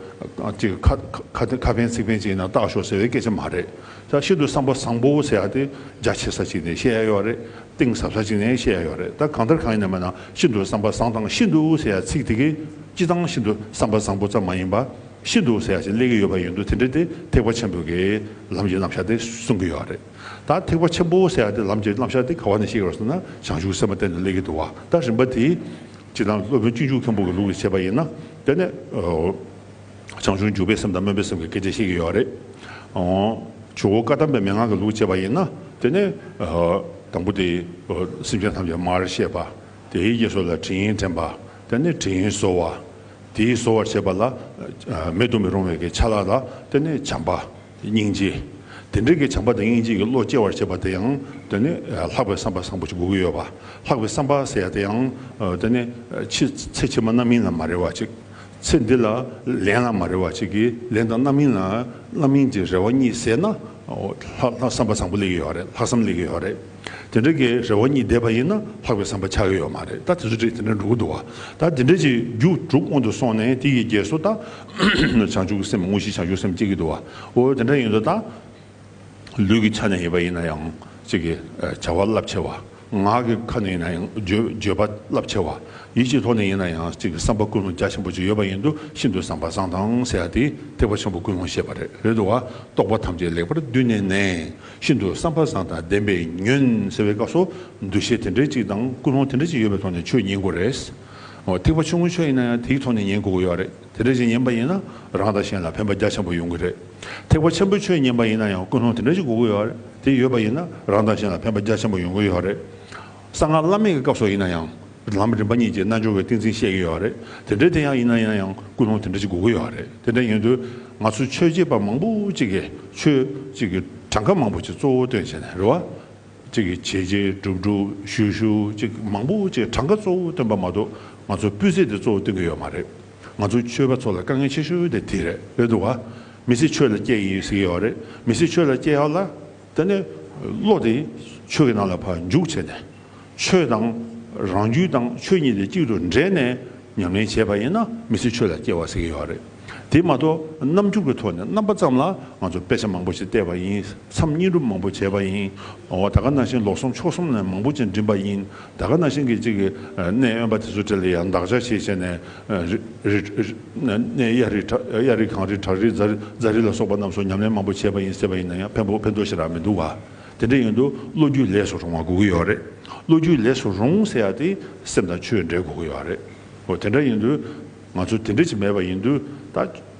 ཅིག་ཁ་ཕན་ཚིག་ཕན་ཅིག་ཡིན་ན་བརྟག་ཤོག་ཟེར་བའི་སྐད་ཆ་མ་རེད། ཤིན་ཏུ་བསམ་པ་བཟང་པོ་ཟེར་ཡག་སྟེ་རྒྱ་ཆེ་ས་ཅིག་ནས་བཤད་ཡག་ཡོད་རེད་གཏིང་ཟབ་ས་ཅིག་ནས་བཤད་ཡག་ཡོད་རེད་ད་གང་ལྟར་གང་ཡིན་ན་མིན་ན་ཤིན་ཏུ་བསམ་པ་བཟང་དང་ཤིན་ཏུ་ཟེར་ཡག་ཚིག་དེ་གས་སྤྱི་བཏང་ཤིན་ཏུ་བསམ་པ་བཟང་པོ་ཙམ་མ་ཡིན་པ་ཤིན་ཏུ་ཟེར་ཡག་ཅིག་སླེབས་ཀྱི་ཡོད་པ་ཡིན་འདུག་དེ་འདྲ་དེ་ཐེག་པ་ཆེན་པོའི་གེ་ལམ་གྱི་རྣམ་གཞག་དེ་གསུང་གི་ཡོད་རེད། ད་ཐེག་པ་ཆེན་པོ་ཟེར་ཡག་དེ་ལམ་གྱི་རྣམ་གཞག་དེ་ག་བ་ནས་ཤེས་དགོས་ཟེར་ན་བྱང་ཆུབ་སེམས་དཔའ་བསྟན་དུ་གནས་ཀྱི་འདུག་བ་ད་རིམ་པ་དེ་ཇི་ལྟར་སློབ་དཔོན་སྤྱི་འཇུག་མཁན་པོ་གི་ལུགས་ལས་བྱེད་པ་ཡིན་ན་དེ་ནས་བྱང་ཆུབ་འཇུག་པའི་སེམས་དང་སྨོན་པའི་སེམས་ཀྱི་སྐད་ཆ་བཤད་ཀྱི་ཡོད་རེད། ཇོ་བོ་བཀའ་གདམས་པའི་མན་ངག་གི་ལུགས་བྱེད་པ་ཡིན་ན་དེ་ནས་དང་པོ་དེ་སེམས་ཅན་ཐམས་ཅད་མར་བཤད་པ་དེའི་རྗེས་སོ་ལ་དྲིན་དྲན་པ་དེ་ནས་དྲིན་གཟོ་བ་དེའི་གཟོ་བར་བྱེད་པ་ལ་མེད་དུ་མི་རུང་བའི་ཆ་ལག་ལ་དེ་ནས་བྱམས་པ། སྙིང་རྗེ། དེ་འབྲེལ་གྱི་བྱམས་པ་དང་སྙིང་རྗེ་ཡི་བློ་སྐྱེ་བར་བྱེད་པ་དེ་ཡང་དེ་ནི་ལྷག་པའི་བསམ་པ་བཟང་པོ་ཅིག་དགོས་ཀྱི་ཡོད་པ། ལྷག་པའི་བསམ་པ་ཟེར་ཡ་དེ་ཡང་དེ་ནི་ཕྱི་ཚེ་ཕྱི་མ་རྣམ་སྨིན་ལ་མ་རེ་བ་ཅིག། ཚེ་འདི་ལ་ལན་ལ་མ་རེ་བ་ཅིག་གིས་ལན་དང་རྣམ་སྨིན་ལ་རྣམ་སྨིན་གྱི་རེ་བ་གཉིས་ཟེར་ན། ལྷག་བསམ་པ་བཟང་པོ་ལེགས་ཀྱི་ཡོད་རེད་ལྷག་བསམ་ལེགས་ཀྱི་ཡོད་རེད། དེ་འབྲེལ་གྱི་རེ་བ་གཉིས་བསྡེབས་པ་ཡིན་ན་ལྷག་པའི་བསམ་པ་ཆགས་ཀྱི་ཡོད་མ་རེད་ད་དེ་ཚོ་དེ་འདྲ་འགྲོ་གི་འདུག་བ། ད་དེ་འབྲེལ་གྱི་རྒྱུགས་དྲུག་སྔོན་དུ་སོང་ནས་དེ་ཡི་རྗེས་སུ་ད། བྱང་ཆུབ་ཀྱི་སེམས་དངོས་གཞི་བྱང་ཆུབ་སེམས་བསྐྱེད་ཀྱི་འདུག་བའོ། དེ་འདྲ་ཡིན་དུ་བཏང། ལུས་ཀྱི་ཆ་ནས་ཡིན་པ་ཡིན་ན་ཡང་ཅིག་གི་བྱ་བ་རླབས་ཆེ་བ། ངག་གི་ཁ་ནས་ཡིན་ན་ཡང་བརྗོད་པ་རླབས་ཆེ་བ། ཡིད་ཀྱི་ཐོག་ནས་ཡིན་ན་ཡང་ཅིག་གི་བསམ་པ་ཀུན་སློང་རྒྱ་ཆེན་པོ་ཅིག་ཡོད་པ་ཡིན་དུ་ཤིན་ཏུ་བཟང་བ་བཟང་དང་ཟེར་བ་དེས་ཐེག་པ་ཆེན་པོ་ཀུན་སློང་ཤེས་པ་རེད་དུ་བ། རྟོགས་པ་ཐམས་ཅད་ལེགས་པར་བསྡུས་ནས་ནས་ཤིན་ཏུ་བསམ་པ་བཟང་དང་ལྡན་པས་ཉོན་ཟེར་བའི་སྐབས་སུ་འདུ་ཤེས་དེ་འདྲའི་ཅིག་དང་ཀུན་སློང་དེ་འདྲའི་ཅིག་ཡོད་པའི་ཐོག་ནས་ཆོས་ཉིད་མགོ་རེད། ཐིགས་པ་ཆུང་ངུ་ཤོས་ཡིན་ན་ཡང་དེའི་ཐོག་ནས་ཉན་དགོས་ཀྱི་ཡོད་རེད་དེ་འདྲ་ཞིག་ཉན་པ་ཡིན་ན་རང་དང་གཞན་ལ་ཕན་པ་རྒྱ་ཆེན་པོ་ཡོང་གི་རེད་ཐིགས་པ་ཆེན་པོ་ཁྱོད་ཉན་པ་ཡིན་ན་ཡང་ཀུན་སློང་དེ་འདྲ་ཞིག་དགོས་ཀྱི་ཡོད་རེད་དེ་ཡོད་པ་ཡིན་ན་རང་དང་གཞན་ལ་ཕན་པ་རྒྱ་ཆེན་པོ་ཡོང་གི་ཡོད་རེད་གསང་སྔགས་བླ་མེད་ཀྱི་སྐབས་སོགས་ཡིན་ན་ཡང་ལམ་རིམ་པ་གཉིས་ཀྱི་རྣལ་འབྱོར་བའི་ཏིང་འཛིན་བཤད་ཀྱི་ཡོད་རེད་དེ་འདྲ་དེ་ཡང་ཡིན་ན་ཡིན་ན་ཡང་ཀུན་སློང་དེ་འདྲ་ཞིག་དགོས་ཀྱི་ཡོད་རེད་དེ་འདྲ་ཡིན་དུས་ང་ཚོ་ཆོས་བྱེད་པ་མང་པོ་གཅིག་གིས་ཆོས་གཅིག་གི་གྲངས་ཀ་མང་པོ་ཞིག་གཙོ་བོ་སྟོན་བྱས་ནས་རེ་བ་ཅིག་གིས་བྱས་རྗེས་སྒྲུབ་སྒྲུབ་ཞུ་ཞུ་ཅིག་མང་པོ་ཅིག་གྲངས་ཀ་གཙོ་བོ་སྟོན་པ་མ་གཏོགས་ང་ཚོ་སྤུས་ཚད་དེ་གཙོ་བོ་སྟོན་གྱི་ཡོད་མ་རེད། ང་ཚོ་ཆོས་པ་ཚོ་ལ་དཀའ་ངལ་ཆེ་ཤོས་དེ་དེ་རེད་བས་འདུག་ག། མི་ཚེ་ཆོས་ལ་བསྐྱལ་ཡིན་ཟེར་གྱི་ཡོད་རེད་མི་ཚེ་ཆོས་ལ་བསྐྱལ་ཡག་ལ། དེ་ནས་བློ་དེ་ཆོས་ཀྱི་ནང་ལ་བར་འཇུག་བྱས་ནས། ཆོས་དང་རང་རྒྱུད་དང་ཆོས་གཉིས་དེ་གཅིག་ཏུ་འདྲེས་ནས་ཉམས་ལེན་བྱས་པ་ཡིན་ན་མི་ཚེ་ཆོས་ལ་སྐྱེལ་བ་ཟེར་གྱི་ཡོད་རེད། དེ་མ་གཏོགས་རྣམ་འགྱུར་གྱི་ཐོག་ནས་རྣམ་པ་ཙམ་ལ་ང་ཚོ་དཔེ་ཆ་མང་པོ་ཞིག་བལྟས་པ་ཡིན་མཚམས་སྙིང་སྒྲུབ་མང་པོ་བྱས་པ་ཡིན། འོ་ད་ག་ན་ཤིང་ལོག་གསུམ་ཕྱོགས་གསུམ་ནས་མང་པོ་ཅིག་འགྲིམས་པ་ཡིན་ད་ག་ན་ཤིང་གི་གཅིག་གནས་དབེན་པ་དེ་ཚོ་དེ་ལ་ཡང་འདག་ཆ་ཞིག་བྱས་ནས་གནས་གཡའ་རི་གངས་རི་བྲག་རི་རྫ་རི་ལ་སོགས་པ་རྣམས་སུ་ཉམས་ལེན་མང་པོ་བྱས་པ་ཡིན་ཟེར་བ་ཡིན་ན་ཡང་ཕན་ཐོགས་ཤིག་རག་མི་འདུག་བ། དེ་འདྲ་ཡིན་དུས་བློ་རྒྱུས་ལས་སུ་རུང་བ་དགོས་ཀྱི་ཡོད་རེད། བློ་རྒྱུས་ལས་སུ་རུང་ཟེར་ཡག་དེ་སེམས་དང་ཆོས་འབྲེལ་དགོས་ཀྱི་ཡོད་རེད། འོ་དེ་འདྲ་ཡིན་དུས་ང་ཚོ་དེ་འདྲ་ཅིག་མེད་པ་ཡིན་དུས་ད་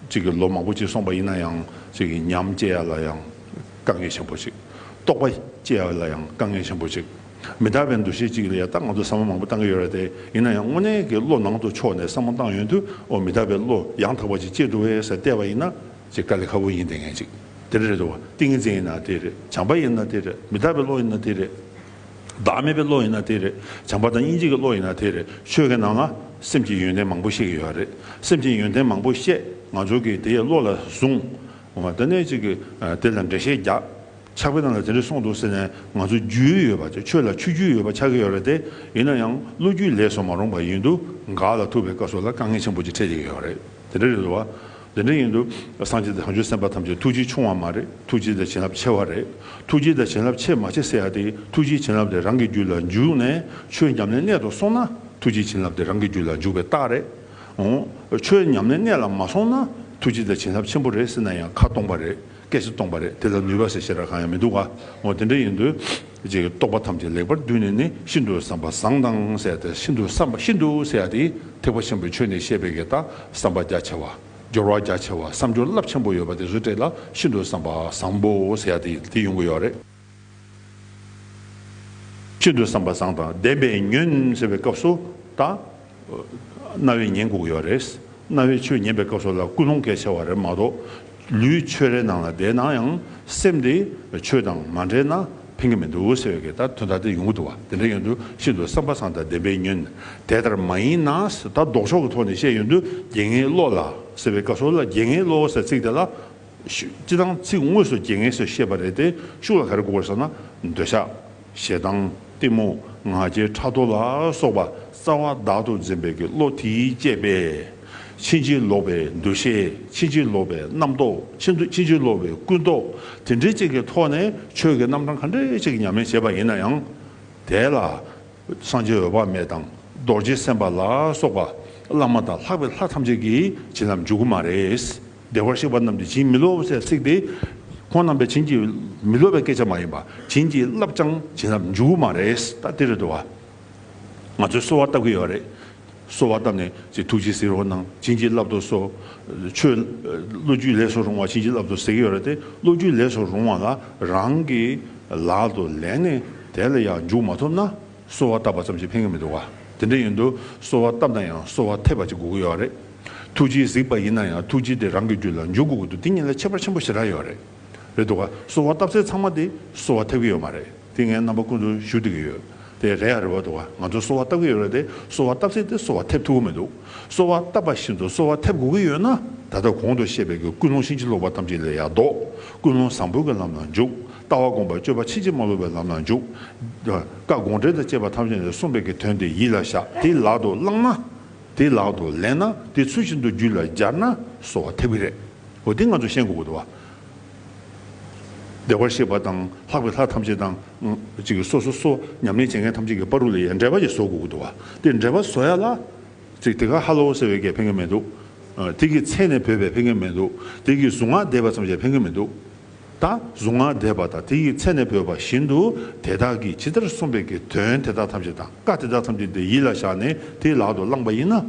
ཅིག་གི་ལོ་མང་པོ་ཅིག་སོང་པ་ཡིན་ན་ཡང་ཅིག་གི་ཉམས་སྐྱེ་ཡག་ལ་ཡང་དཀའ་ངལ་ཆེན་པོ་ཅིག། རྟོགས་པ་སྐྱེ་ཡག་ལ་ཡང་དཀའ་ངལ་ཆེན་པོ་ཅིག། མི་དག་པའི་འདུ་ཤེས་ཅིག་ལ་ཡང་ད་ང་ཚོ་བསམ་བློ་མང་པོ་བཏང་གི་ཡོད་རེད་དེ་ཡིན་ན་ཡང་དངོས་གནས་ཀྱི་བློ་ནང་དུ་ཕྱོགས་ནས་བསམ་བློ་བཏང་ཡོད་དུས་འོ་མི་དག་པའི་བློ་ཡང་དག་པ་ཅིག་སྐྱེ་འགྲོ་བས་ཟེར་བལྟས་པ་ཡིན་ན། ཅེས་དཀའ་ལས་ཁ་བོ་ཡིན་དེ་ངན་ཅིག་དེ་རེད་དོ། ཏིང་ངེ་འཛིན་ཡིན་ན་དེ་རེད། བྱམས་པ་ཡིན་ན་དེ་རེད། མི་རྟག་པའི་བློ་ཡིན་ན་དེ་རེད། བདག་མེད་པའི་བློ་ཡིན་ན་དེ་རེད། བྱམས་པ་དང་སྙིང་རྗེ་གི་བློ་ཡིན་ན་དེ་རེད། ཆོས་ཀྱི་ནང་ན་སེམས་ཀྱི་ཡོན་ཏན་མང་པོ་བཤད་ཀྱི་ཡོད་པ་རེད། སེམས་ཀྱི་ཡོན་ཏན་མང་པོ་བཤད་ང་ཚོ་གིས་དེ་བློ་ལ་བཟུང། དེ་ནས་ཅིག་དེ་ལ་འགྲེལ་བཤད་རྒྱག། ཆགས་པའི་ནང་ལ་དེ་འདྲ་གསུངས་འདུག་ཟེར་ནས་ང་ཚོ་རྒྱུས་ཡོད་པ་ཆགས་ཆོས་ལ་ཆུ་རྒྱུས་ཡོད་པ་ཆགས་ཀྱི་ཡོད་རེད་དེ། ཡིན་ན་ཡང་བློ་རྒྱུས་ལས་སོ་མ་རུང་པ་ཡིན་འདུག་ག་ལ་ཐུབ་པའི་སྐབས་སོགས་ལ་དཀའ་ངལ་ཆེན་པོ་ཅིག་འཕྲད་ཀྱི་ཡོད་རེད་དེ་རེད་དོ། དེ་འདྲ་ཡིན་དུས་སངས་རྒྱས་བྱང་ཆུབ་སེམས་དཔའ་ཐམས་ཅད་ཐུགས་རྗེའི་ཆུང་བ་མ་རེད་ཐུགས་རྗེའི་དེ་བྱིན་རླབས་ཆེ་བ་རེད་ཐུགས་རྗེའི་དེ་བྱིན་རླབས་ཆེ་མ་ཆེ་ཟེར་ཡག་དེ་ཐུགས་རྗེའི་བྱིན་རླབས་དེ་རང་གི་རྒྱུད་ལ་འཇུག་ནས་ཆོས་ཉམས་ལེན་གནད་དུ་སོང་ན་ཐུགས་རྗེའི་བྱིན་རླབས་དེ་རང་གི་རྒྱུད་ལ་འཇུག་པའི་རྟགས་རེད་འོང། ཆོས་ཉམས་ལེན་གནད་ལ་མ་སོང་ན་ཐུགས་རྗེའི་དེ་བྱིན་རླབས་ཆེན་པོ་རེད་ཟེར་ན་ཡང་ཁ་སྟོང་པ་རེད། སྐད་ཅིག་སྟོང་པ་རེད་དེ་ལ་ནུས་པ་ཞེས་བྱེད་སྒྲ་གང་ཡང་མི་འདུག་ག་འོ་དེ་འདྲ་ཡིན་དུས། ཅེས་རྟོག་པ་ཐམས་ཅད་ལེགས་པར་བསྡུས་ནས་ནི་ཤིན་ཏུ་བསམ་པ་བཟང་དང་བསྲེས་ཏེ་ཤིན་ཏུ་བསམ་པ་ཤིན་ཏུ་བསྲེས་ཏེ་ཐེག་པ་ཆེན་པོའི་ཆོས་ནི་བཤད་པའི་གེགས་དང་བསམ་པ་རྒྱ་ཆེ་བ། སྦྱོར་བ་རྒྱ་ཆེ་བ་བསམ་སྦྱོར་རླབས་ཆེན་པོ་ཡོད་པ་དེ་སུ་སྤྲད་ལ་ཤིན་ཏུ་བསམ་པ་བཟང་པོ་བསྲེས་ཏེ་དེ་ཡོང་གི་ཡོད་རེད། ཤིན་ཏུ་བསམ་པ་བཟང་དང་ལྡན་པས་ཉོན་ཟེར་བའི་སྐབས་སུ་དང། རྣ་བས་ཉན་དགོས་ཀྱི་བ་རེད། རྣ་བས་ཆོས་ཉན་པའི་སྐབས་སུ་ལ་ཀུན་སློང་གལ་ཆེ་བ་རེད་མ་གཏོགས། ལུས་ཆོས་རའི་ནང་ལ་བསྡད་ན་ཡང་སེམས་དེ་ཆོས་དང་མ་འབྲེལ་ན་ཕན་གྱི་མི་འདུག་ཟེར་བའི་ལྟར་དོན་དག་དེ་ཡོང་གི་འདུག་བ་དེ་འདྲ་ཡོང་དུས་ཤིན་ཏུ་བསམ་པ་བཟང་དང་ལྡན་པས་ཉོན། དེ་ལྟར་མ་ཡིན་ན་ད་ལྡོག་ཕྱོགས་ཀྱི་ཐོག་ནས་བཤད་ཡོང་དུས་དགེ་བསྔལ་བློ་ལ་ཟེར་བའི་སྐབས་སུ་ལ་དགེ་བསྔལ་བློ་ཟེར་ཚིག་དེ་ལ་སྤྱི་དང་ཚིག་དངོས་སུ་རྒྱལ་ངེས་སུ་བཤད་པ་རེད་དེ་ཤུགས་ལ་ག་རེ་དགོས་ཟེར་ན་འདོད་ཆགས། ཞེ་སྡང། གཏི་མུག། ང་རྒྱལ་ཕྲག་དོག་ལ་སོགས་པ་རྩ་བ་བདག་ཏུ་འཛིན་པའི་གི་བློ་དེའི་བསྐྱེད་པས། ཕྱིན་ཅི་ལོག་པའི་འདུ་ཤེས་ཕྱིན་ཅི་ལོག་པའི་རྣམ་རྟོག་ཕྱིན་ཅི་ལོག་པའི་ཀུན་རྟོག་དེ་འདྲའི་ཅིག་གི་ཐོག་ནས་ཆོས་ཀྱི་རྣམ་གྲངས་ག་འདྲའི་ཅིག་ཉམས་ལེན་བྱེད་པ་ཡིན་ན་ཡང། དེ་ལ། སངས་རྒྱས་འོད་དཔག་མེད་དང་རྡོ་རྗེ་སེམས་དཔའ་ལ་སོགས་པ་བླ་མ་དང་ལྷག་པའི་ལྷ་ཐམས་ཅད་ཀྱིས་བྱིན་རླབས་འཇུག་གི་མ་རེད། བདེ་བར་གཤེགས་པ་རྣམས་ཀྱིས་བྱིན་མི་རློབ་བསད་བསྲེགས་ཏེ། ཁོང་རྣམས་པས་བྱིན་གྱིས་མི་རློབ་པའི་སྐད་ཆ་མ་ཡིན་པ་བྱིན་གྱིས་བརླབས་ཀྱང་བྱིན་རླབས་འཇུག་མ་རེད་ད་ལྟའི་རེ་དོ་བ། ང་ཚོས་གསོལ་བ་བཏབ་ཀྱི་ཡོད་རེད། གསོལ་བ་བཏབ་ནས་ཅི་ཐུགས་རྗེ་གཟིགས་རོགས་གནང་བྱིན་གྱིས་བརླབ་ཏུ་གསོལ། ཆོས་བློ་རྒྱུད་ལས་སུ་རུང་བ་བྱིན་གྱིས་བརླབ་ཏུ་གཟིགས་ཀྱི་ཡོད་རེད་དེ་བློ་རྒྱུད་ལས་སུ་རུང་བ་ལ་རང་གི་ལག་ཏུ་ལེན་ནས་དེ་ལ་ཡང་འཇུག་མ་ཐུབ་ན་གསོལ་བ་བཏབ་པ་ཙམ་གྱིས་ཕན་གྱི་མི་འདུག་བ། དེ་འདྲ་ཡིན་དུས་གསོལ་བ་བཏབ་ན་ཡང་གསོལ་བ་འཐད་པ་ཅིག་དགོས་ཀྱི་ཡོད་རེད། ཐུགས་རྗེའི་གཟིགས་པ་ཡིན་ན་ཡང་ཐུགས་རྗེ་དེ་རང་གི་རྒྱུད་ལ་འཇུག་དགོས་དགོས་འདུག་དེ་ཉིད་ལ་ཁྱད་པར་ཆེན་པོ་ཞེ་དྲག་ཡོད་རེད། རེད་འདུག་ག་གསོལ་བ་བཏབ་ཚེ་ཚང་མ་དེ་གསོལ་བ་ཐེབས་ཀྱི་ཡོད་མ་རེད་དེ་ངའི་རྣམ་པ་ཀུན་ཏུ་ཞུ་བདེ་གི་ཡོད་དེ་རེད་ཡ་རེད་བ་འདུག་ག་ང་ཚོ་གསོལ་བ་བཏབ་ཀྱི་ཡོད་རེད་དེ་གསོལ་བ་བཏབ་ཚེ་དེ་གསོལ་བ་ཐེབས་ཐུབ་གི་མི་འདུག་གསོལ་བ་བཏབ་པ་བཞིན་དུ་གསོལ་བ་ཐེབས་དགོས་ཀྱི་ཡོད་ན་ད་ལྟ་གོང་དུ་བཤད་པའི་གི་ཀུན་སློང་ཕྱིན་ཅི་ལོག་པ་ཐམས་ཅད་ལས་ཡར་ལྡོག་ཀུན་སློང་བཟང་པོའི་གི་ལམ་ལ་འཇུག་ལྟ་བ་སྒོམ་པ་སྤྱོད་པ་ཕྱིན་ཅི་མ་ལོག་པའི་ལམ་ལ་འཇུག་བཀའ་དགོངས་འགྲེལ་དང་བཅས་པ་ཐམས་ཅད་ནས་གསུངས་པའི་གི་དོན་དེ་ཡིད་ལ་བཞག་དེ་ལག་ཏུ་བླངས་ན། དེ་ལག་ཏུ་ལེན་ན་དེ་ཚུལ་བཞིན་དུ་རྒྱུད་ལ་སྦྱར་ན་གསོ་བ་ཐེབས་ཀྱི་རེད། འོ་དེ་ང་ཚོ་ཤེས་དགོས་དགོས་བ། བདེ་བར་གཤེགས་པ་དང་ལྷག་པའི་ལྷ་ཐམས་ཅད་དང། ཅིག་སོ་སོ་སོ་ཉམས་ལེན་བྱེད་མཁན་ཐམས་ཅད་ཀྱི་དཔའ་རུ་ལ་ཡའི་འགྲེལ་པ་ཞིག་བཟོ་དགོས་དགོས་བ། དེ་འགྲེལ་པ་བཟོ་ཡ་ལ། ཅིག་དེ་ག་ཧ་ལོ་ཟེར་བའི་སྐད་ཕན་མཁན་མེད་འདུག། དེ་གི་མཚན་ནས་བོས་པའི་ཕན་མཁན་མེད་འདུག་དེ་གི་གཟུངས་སྔགས་བཟླས་པ་ཙམ་ཞིག་ཕན་མཁན་མེད་འདུག། དང་གཟུངས་སྔགས་བཟླས་པ་དང་དེ་ཡི་ཚེ་ནས་བོས་པ་བཞིན་དུ་དེ་དག་གིས་ཇི་ལྟར་གསུངས་པའི་གི་དོན་དེ་དག་ཐམས་ཅད་དང་བཀའ་དེ་དག་ཐམས་ཅད་དེ་ཡིད་ལ་བཞག་ནས་དེ་ལག་ཏུ་བླངས་པ་ཡིན་ན།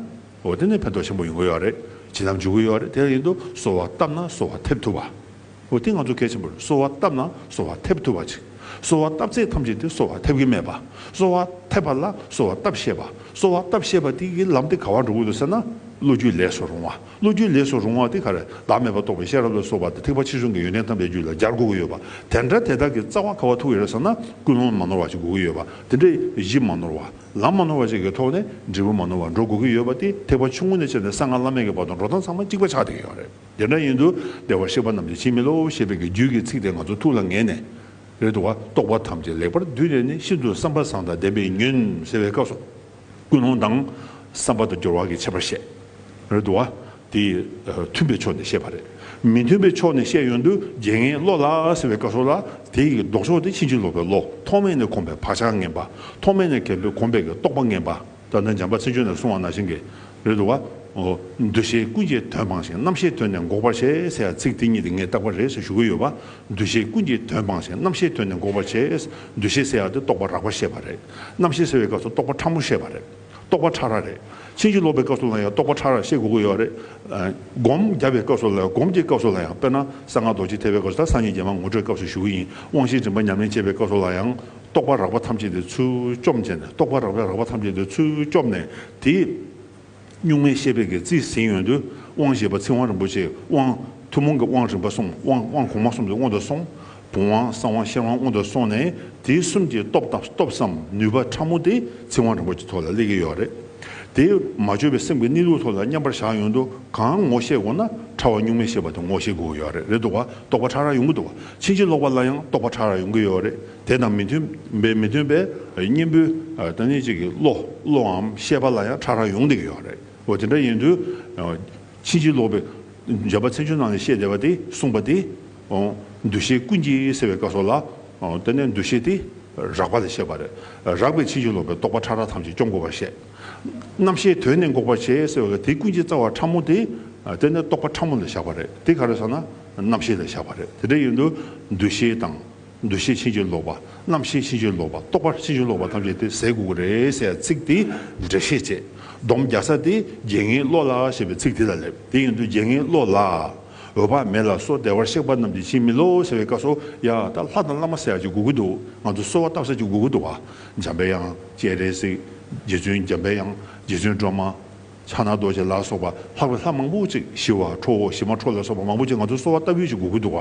འོ་དེ་ནས་ཕན་ཐོགས་ཆེན་པོ་ཡོང་གི་ཡོད་རེད་བྱིན་རླབས་འཇུག་གི་ཡོད་རེད་དེ་བཞིན་དུ་གསོལ་བ་བཏབ་ན་གསོལ་བ་ཐེབས་ཐུབ་པ། འོ་དེ་ང་ཚོ་གལ་ཆེན་པོ་རེད་གསོལ་བ་བཏབ་ན་གསོལ་བ་ཐེབས་ཐུབ་པ་ཅིག་གསོལ་བ་བཏབ་ཚད་ཐམས་ཅད་དེ་གསོལ་བ་ཐེབས་གི་མེད་པ་གསོལ་བ་ཐེབས་པ་ལ་གསོལ་བ་བཏབ་ཤེས་པ་གསོལ་བ་བཏབ་ཤེས་པ་དེ་གི་ལམ་དེ་ག་བར་འགྲོ་གི་འདུག་ཟེར་ན་བློ་རྒྱུད་ལས་སུ་རུང་བ་བློ་རྒྱུད་ལས་སུ་རུང་བ་དེ་གར་བདག་མེད་པར་རྟོགས་པའི་ཤེས་རབ་ལ་སོགས་པ་དེ་ཐེག་པ་ཆེ་ཆུང་གི་ཡོན་ཏན་དམ་པའི་རྒྱུད་ལ་སྦྱར་དགོས་ཀྱི་ཡོད་པ་དེ་འདྲ་དེ་དག་གི་རྩ་བ་ཁ་བ་ཐུག་ཡོད་ས་ན་ཀུན་སློང་མ་ནོར་བ་ཞིག་དགོས་ཀྱི་ཡོད་པ་དེ་འདྲ་གཞི་མ་ནོར་བ་ལམ་མ་ནོར་བ་ཞིག་གི་ཐོག་ནས་འབྲས་བུ་མ་ནོར་བར་འགྲོ་དགོས་ཀྱི་ཡོད་པ་དེ་ཐེག་པ་ཆུང་ངུ་ནས་བྱས་ནས་གསང་སྔགས་བླ་མེད་ཀྱི་བར་དུ་འགྲོ་སྟངས་ཚང་མ་གཅིག་པ་ཆགས་བསྡད་ཀྱི་ཡོད་རེད་དེ་འདྲ་ཡིན་དུ་བདེ་བར་གཤེགས་པ་རྣམས་ཀྱི་ཕྱིར་མི་སློབ་ཞེས་པའི་གི་རྒྱུད་ཀྱི་ཚིག་དེ་ང་ཚོ་ཐུགས་ལ་ངེས་ནས་རེད་དུ་བ་རྟོགས་པ་ཐམས་ཅད་ལེགས་པར་བསྡུས་ནས་ནི་ཤིན་ཏུ་བསམ་པ་བཟང་དང་ལྡན་པའི་ཉོན་ཟེར་བའི་སྐབས་སུ། ཀུན་སློང་དང། བསམ་པ་དང་སྦྱོར་བ་གྱི་ཁྱད་པར་བཤད། རེད་དོ། དེ་མཐུན་པའི་ཕྱོགས་ནས་བཤད་པ་རེད། མི་མཐུན་པའི་ཕྱོགས་ནས་བཤད་ཡོན་དུ་རྒྱལ་ངའི་བློ་ལ་ཟེར་བའི་བཀའ་སྲོལ་ལ། དེ་ཡི་ལྡོག་ཕྱོགས་དེ་ཕྱིན་ཅི་ལོག་པའི་བློ་ཐོག་མེད་ནས་གོམས་པའི་བག་ཆགས་ངན་པ། ཐོག་མེད་ནས་གལ་ཏེ་གོམས་པའི་རྟོག་པ་ངན་པ། ད་ནི་འཇམ་པ་ཚིག་ཆོས་ནས་གསུང་བ་ན་བཞིན་གྱི། རེད་དོ། འདུ་བྱེད་ཀུན་གྱི་དོན་སྤངས་ཤིང་རྣམ་ཤེས་དོན་ནི་འགོག་པར་བྱེད་ཟེར་བ་ཚིག་དེ་གཉིས་དེ་ངས་བཏགས་པ་རེད་ཟེར་ཞུ་གི་ཡོད་པ། འདུ་བྱེད་ཀུན་གྱི་དོན་སྤངས་ཤིང་རྣམ་ཤེས་དོན་ནི་འགོག་པར་བྱེད། འདུ་བྱེད་ཟེར་བ་དེ་རྟོག་པ་རགས་པར་བཤད་པ་རེད། རྣམ་ཤེས་གསལ་བའི་སྐབས་སུ་རྟོག་པ་ཕྲ་མོ་བཤད་པ་རེད། རྟོག་པ་ཕྲ་རགས་རེད། ཕྱིན་ཅི་ལོག་པའི་སྐབས་སུ་ལ་ཡང་རྟོག་པ་ཕྲ་རགས་བཤད་དགོས་ཀྱི་ཡོད་རེད། སྒོམ་བརྒྱ་པའི་སྐབས་སུ་ལ་ཡང་སྒོམ་གྱི་སྐབས་སུ་ལ་ཡང་དཔེར་ན་གསང་སྔགས་རྡོ་རྗེ་ཐེག་པའི་སྐབས་སུ་དང་སངས་རྒྱས་རྒྱལ་མ་ངོ་སྤྲོད་སྐབས་སུ་ཞུགས་ཡིན་དབང་བཞིའི་རིམ་པ་ཉམས་ལེན་བྱེད་པའི་སྐབས་སུ་ལ་ཡང། རྟོག་པ་རགས་པ་ཐམས་ཅད་དེའི་ཚུལ་བཅོམ་བྱས་ནས་རྟོག་པ་རགས་པའི་རགས་པ་ཐམས་ཅད་དེའི་ཚུལ་བཅོམ་ནས་དེའི། གཉུག་མའི་ཤེས་དཔལ་གྱི་རྩིས་ཟིན་ཡོན་དུ་དབང་བཞི་པ་ཚིག་དབང་རིན་པོ་ཆེའི་དབང། ཐུན་མོང་གི་དབང་རིམ་པ་གསུམ་དབང་དབང་གོང་མ་གསུམ་གྱི་དབང་དུ་སོང། བུམ་དབང་གསང་དབང་ཤེར་དབང་དབང་དུ་སོང་ནས་དེ་གསུམ་གྱི་སྟོབས་དང་སྟོབས་སམ་ནུས་པ་ཕྲ་མོ་དེ་ཚིག་དབང་རིན་པོ་ཆེ་ཐོག་ལ་སླེབས་ཀྱི་ཡོད་རེད། དེས་མ་བཅོས་པའི་སེམས་ཀྱི་གནས་ལུགས་ཐོག་ལ་མཉམ་པར་བཞག་ཡོན་དུ་གང་ངོ་ཤེས་དགོས་ན་ཕྲ་བ་གཉུག་མའི་ཤེས་པ་དེ་ངོ་ཤེས་དགོས་ཀྱི་ཡོད་རེད་རེད་འདུག་བ་རྟོགས་པ་ཕྲ་རགས་ཡོང་གི་འདུག་བ་ཕྱིན་ཅི་ལོག་པ་ལ་ཡང་རྟོགས་པ་ཕྲ་རགས་ཡོང་གི་ཡོད་རེད། དེ་དང་མི་མཐུན་པའི་མི་མཐུན་པའི་གཉེན་པོའི་བདག་ཉིད་གཅིག་གི་བློ་བློའམ་ཤེས་པ་ལ་ཡང་ཕྲ་རགས་ཡོང་སྡིག་ཡོད་རེད་འོ་དེ་འདྲ་ཡིན་དུས་ཕྱིན་ཅི་ལོག་པའི་སྦྱར་བ་ཚན་ཆུང་ནང་ནས་བཤད་བསྡད་པ་དེ་གསུངས་པ་དེ་འདུ་ཤེས་ཀུན་གྱི་སེལ་བའི་བཀའ་སོགས་ལ་བརྟེན་ནས་འདུ་ཤེས་དེ་རགས་པ་ལས་བཤད་པ་རེད་རགས་པའི་ཕྱིན་ཅི་ལོག་པའི་རྟོག་པ་ཕྲ་རགས་ཐམས་ཅད་སྐྱོབ་དགོས་པར་བཤད། རྣམ་ཤེས་དོན་ནི་འགོག་པར་བྱེད་ཟེར་བ་ལ་དེ་ཀུན་གྱི་རྩ་བ་ཕྲ་མོ་དེ་བརྟེན་ནས་རྟོག་པ་ཕྲ་མོ་ལས་བཞག་པ་རེད་དེ་ག་རེ་སོང་ན་རྣམ་ཤེས་ལས་བཞག་པ་རེད་དེ་འདྲ་ཡིན་དུས་འདུ་ཤེས་དང། འདུ་ཤེས་ཕྱིན་ཅི་ལོག་པ། རྣམ་ཤེས་ཕྱིན་ཅི་ལོག་པ། རྟོག་པ་ཕྱིན་ཅི་ལོག་པ་ཐམས་ཅད་དེ་ཟས་དགུ་དགུ་རེད་ཟེར་ཡ་ཚིག་དེ་འགྲེལ་བཤད་བྱེད་སྡོམ་རྒྱག་ས་དེ་རྒྱལ་ངའི་བློ་ལ་ཞེས་པའི་ཚིག་དེ་ལ་སླེབས་དེ་ཡིན་དུས་རྒྱལ་ངའི་བློ་ལ་འོད་དཔག་མེད་ལ་སོགས་བདེ་བར་གཤེགས་པ་རྣམས་ཀྱིས་ཕྱིན་མི་ལོག་ཟེར་བའི་བཀའ་སོ་ཡ་ད་ལྷ་དང་བླ་མ་ཟེར་ཡ་ཅིག་དགུ་དགུ་འདུག་ང་ཚོ་གསོལ་བ་བཏབ་ས་ཅིག་དགུ་དགུ་འདུག་བ་འཇམ་པའི་དབྱངས་ཅེས་རེད་ཟིག་རྗེ་བཙུན་འཇམ་པའི་དབྱངས་རྗེ་བཙུན་སྒྲོལ་མ། ཕྱག་ན་རྡོ་རྗེ་ལ་སོགས་པ་ལྷག་པའི་ལྷ་མང་པོ་ཅིག་ཞི་བ་ཁྲོ་བོ་ཞི་མ་ཁྲོ་ལ་སོགས་པ་མང་པོ་ཅིག་ང་ཚོ་གསོལ་བ་བཏབ་ཡོད་ཅེས་སྒུག་གི་འདུག་ག་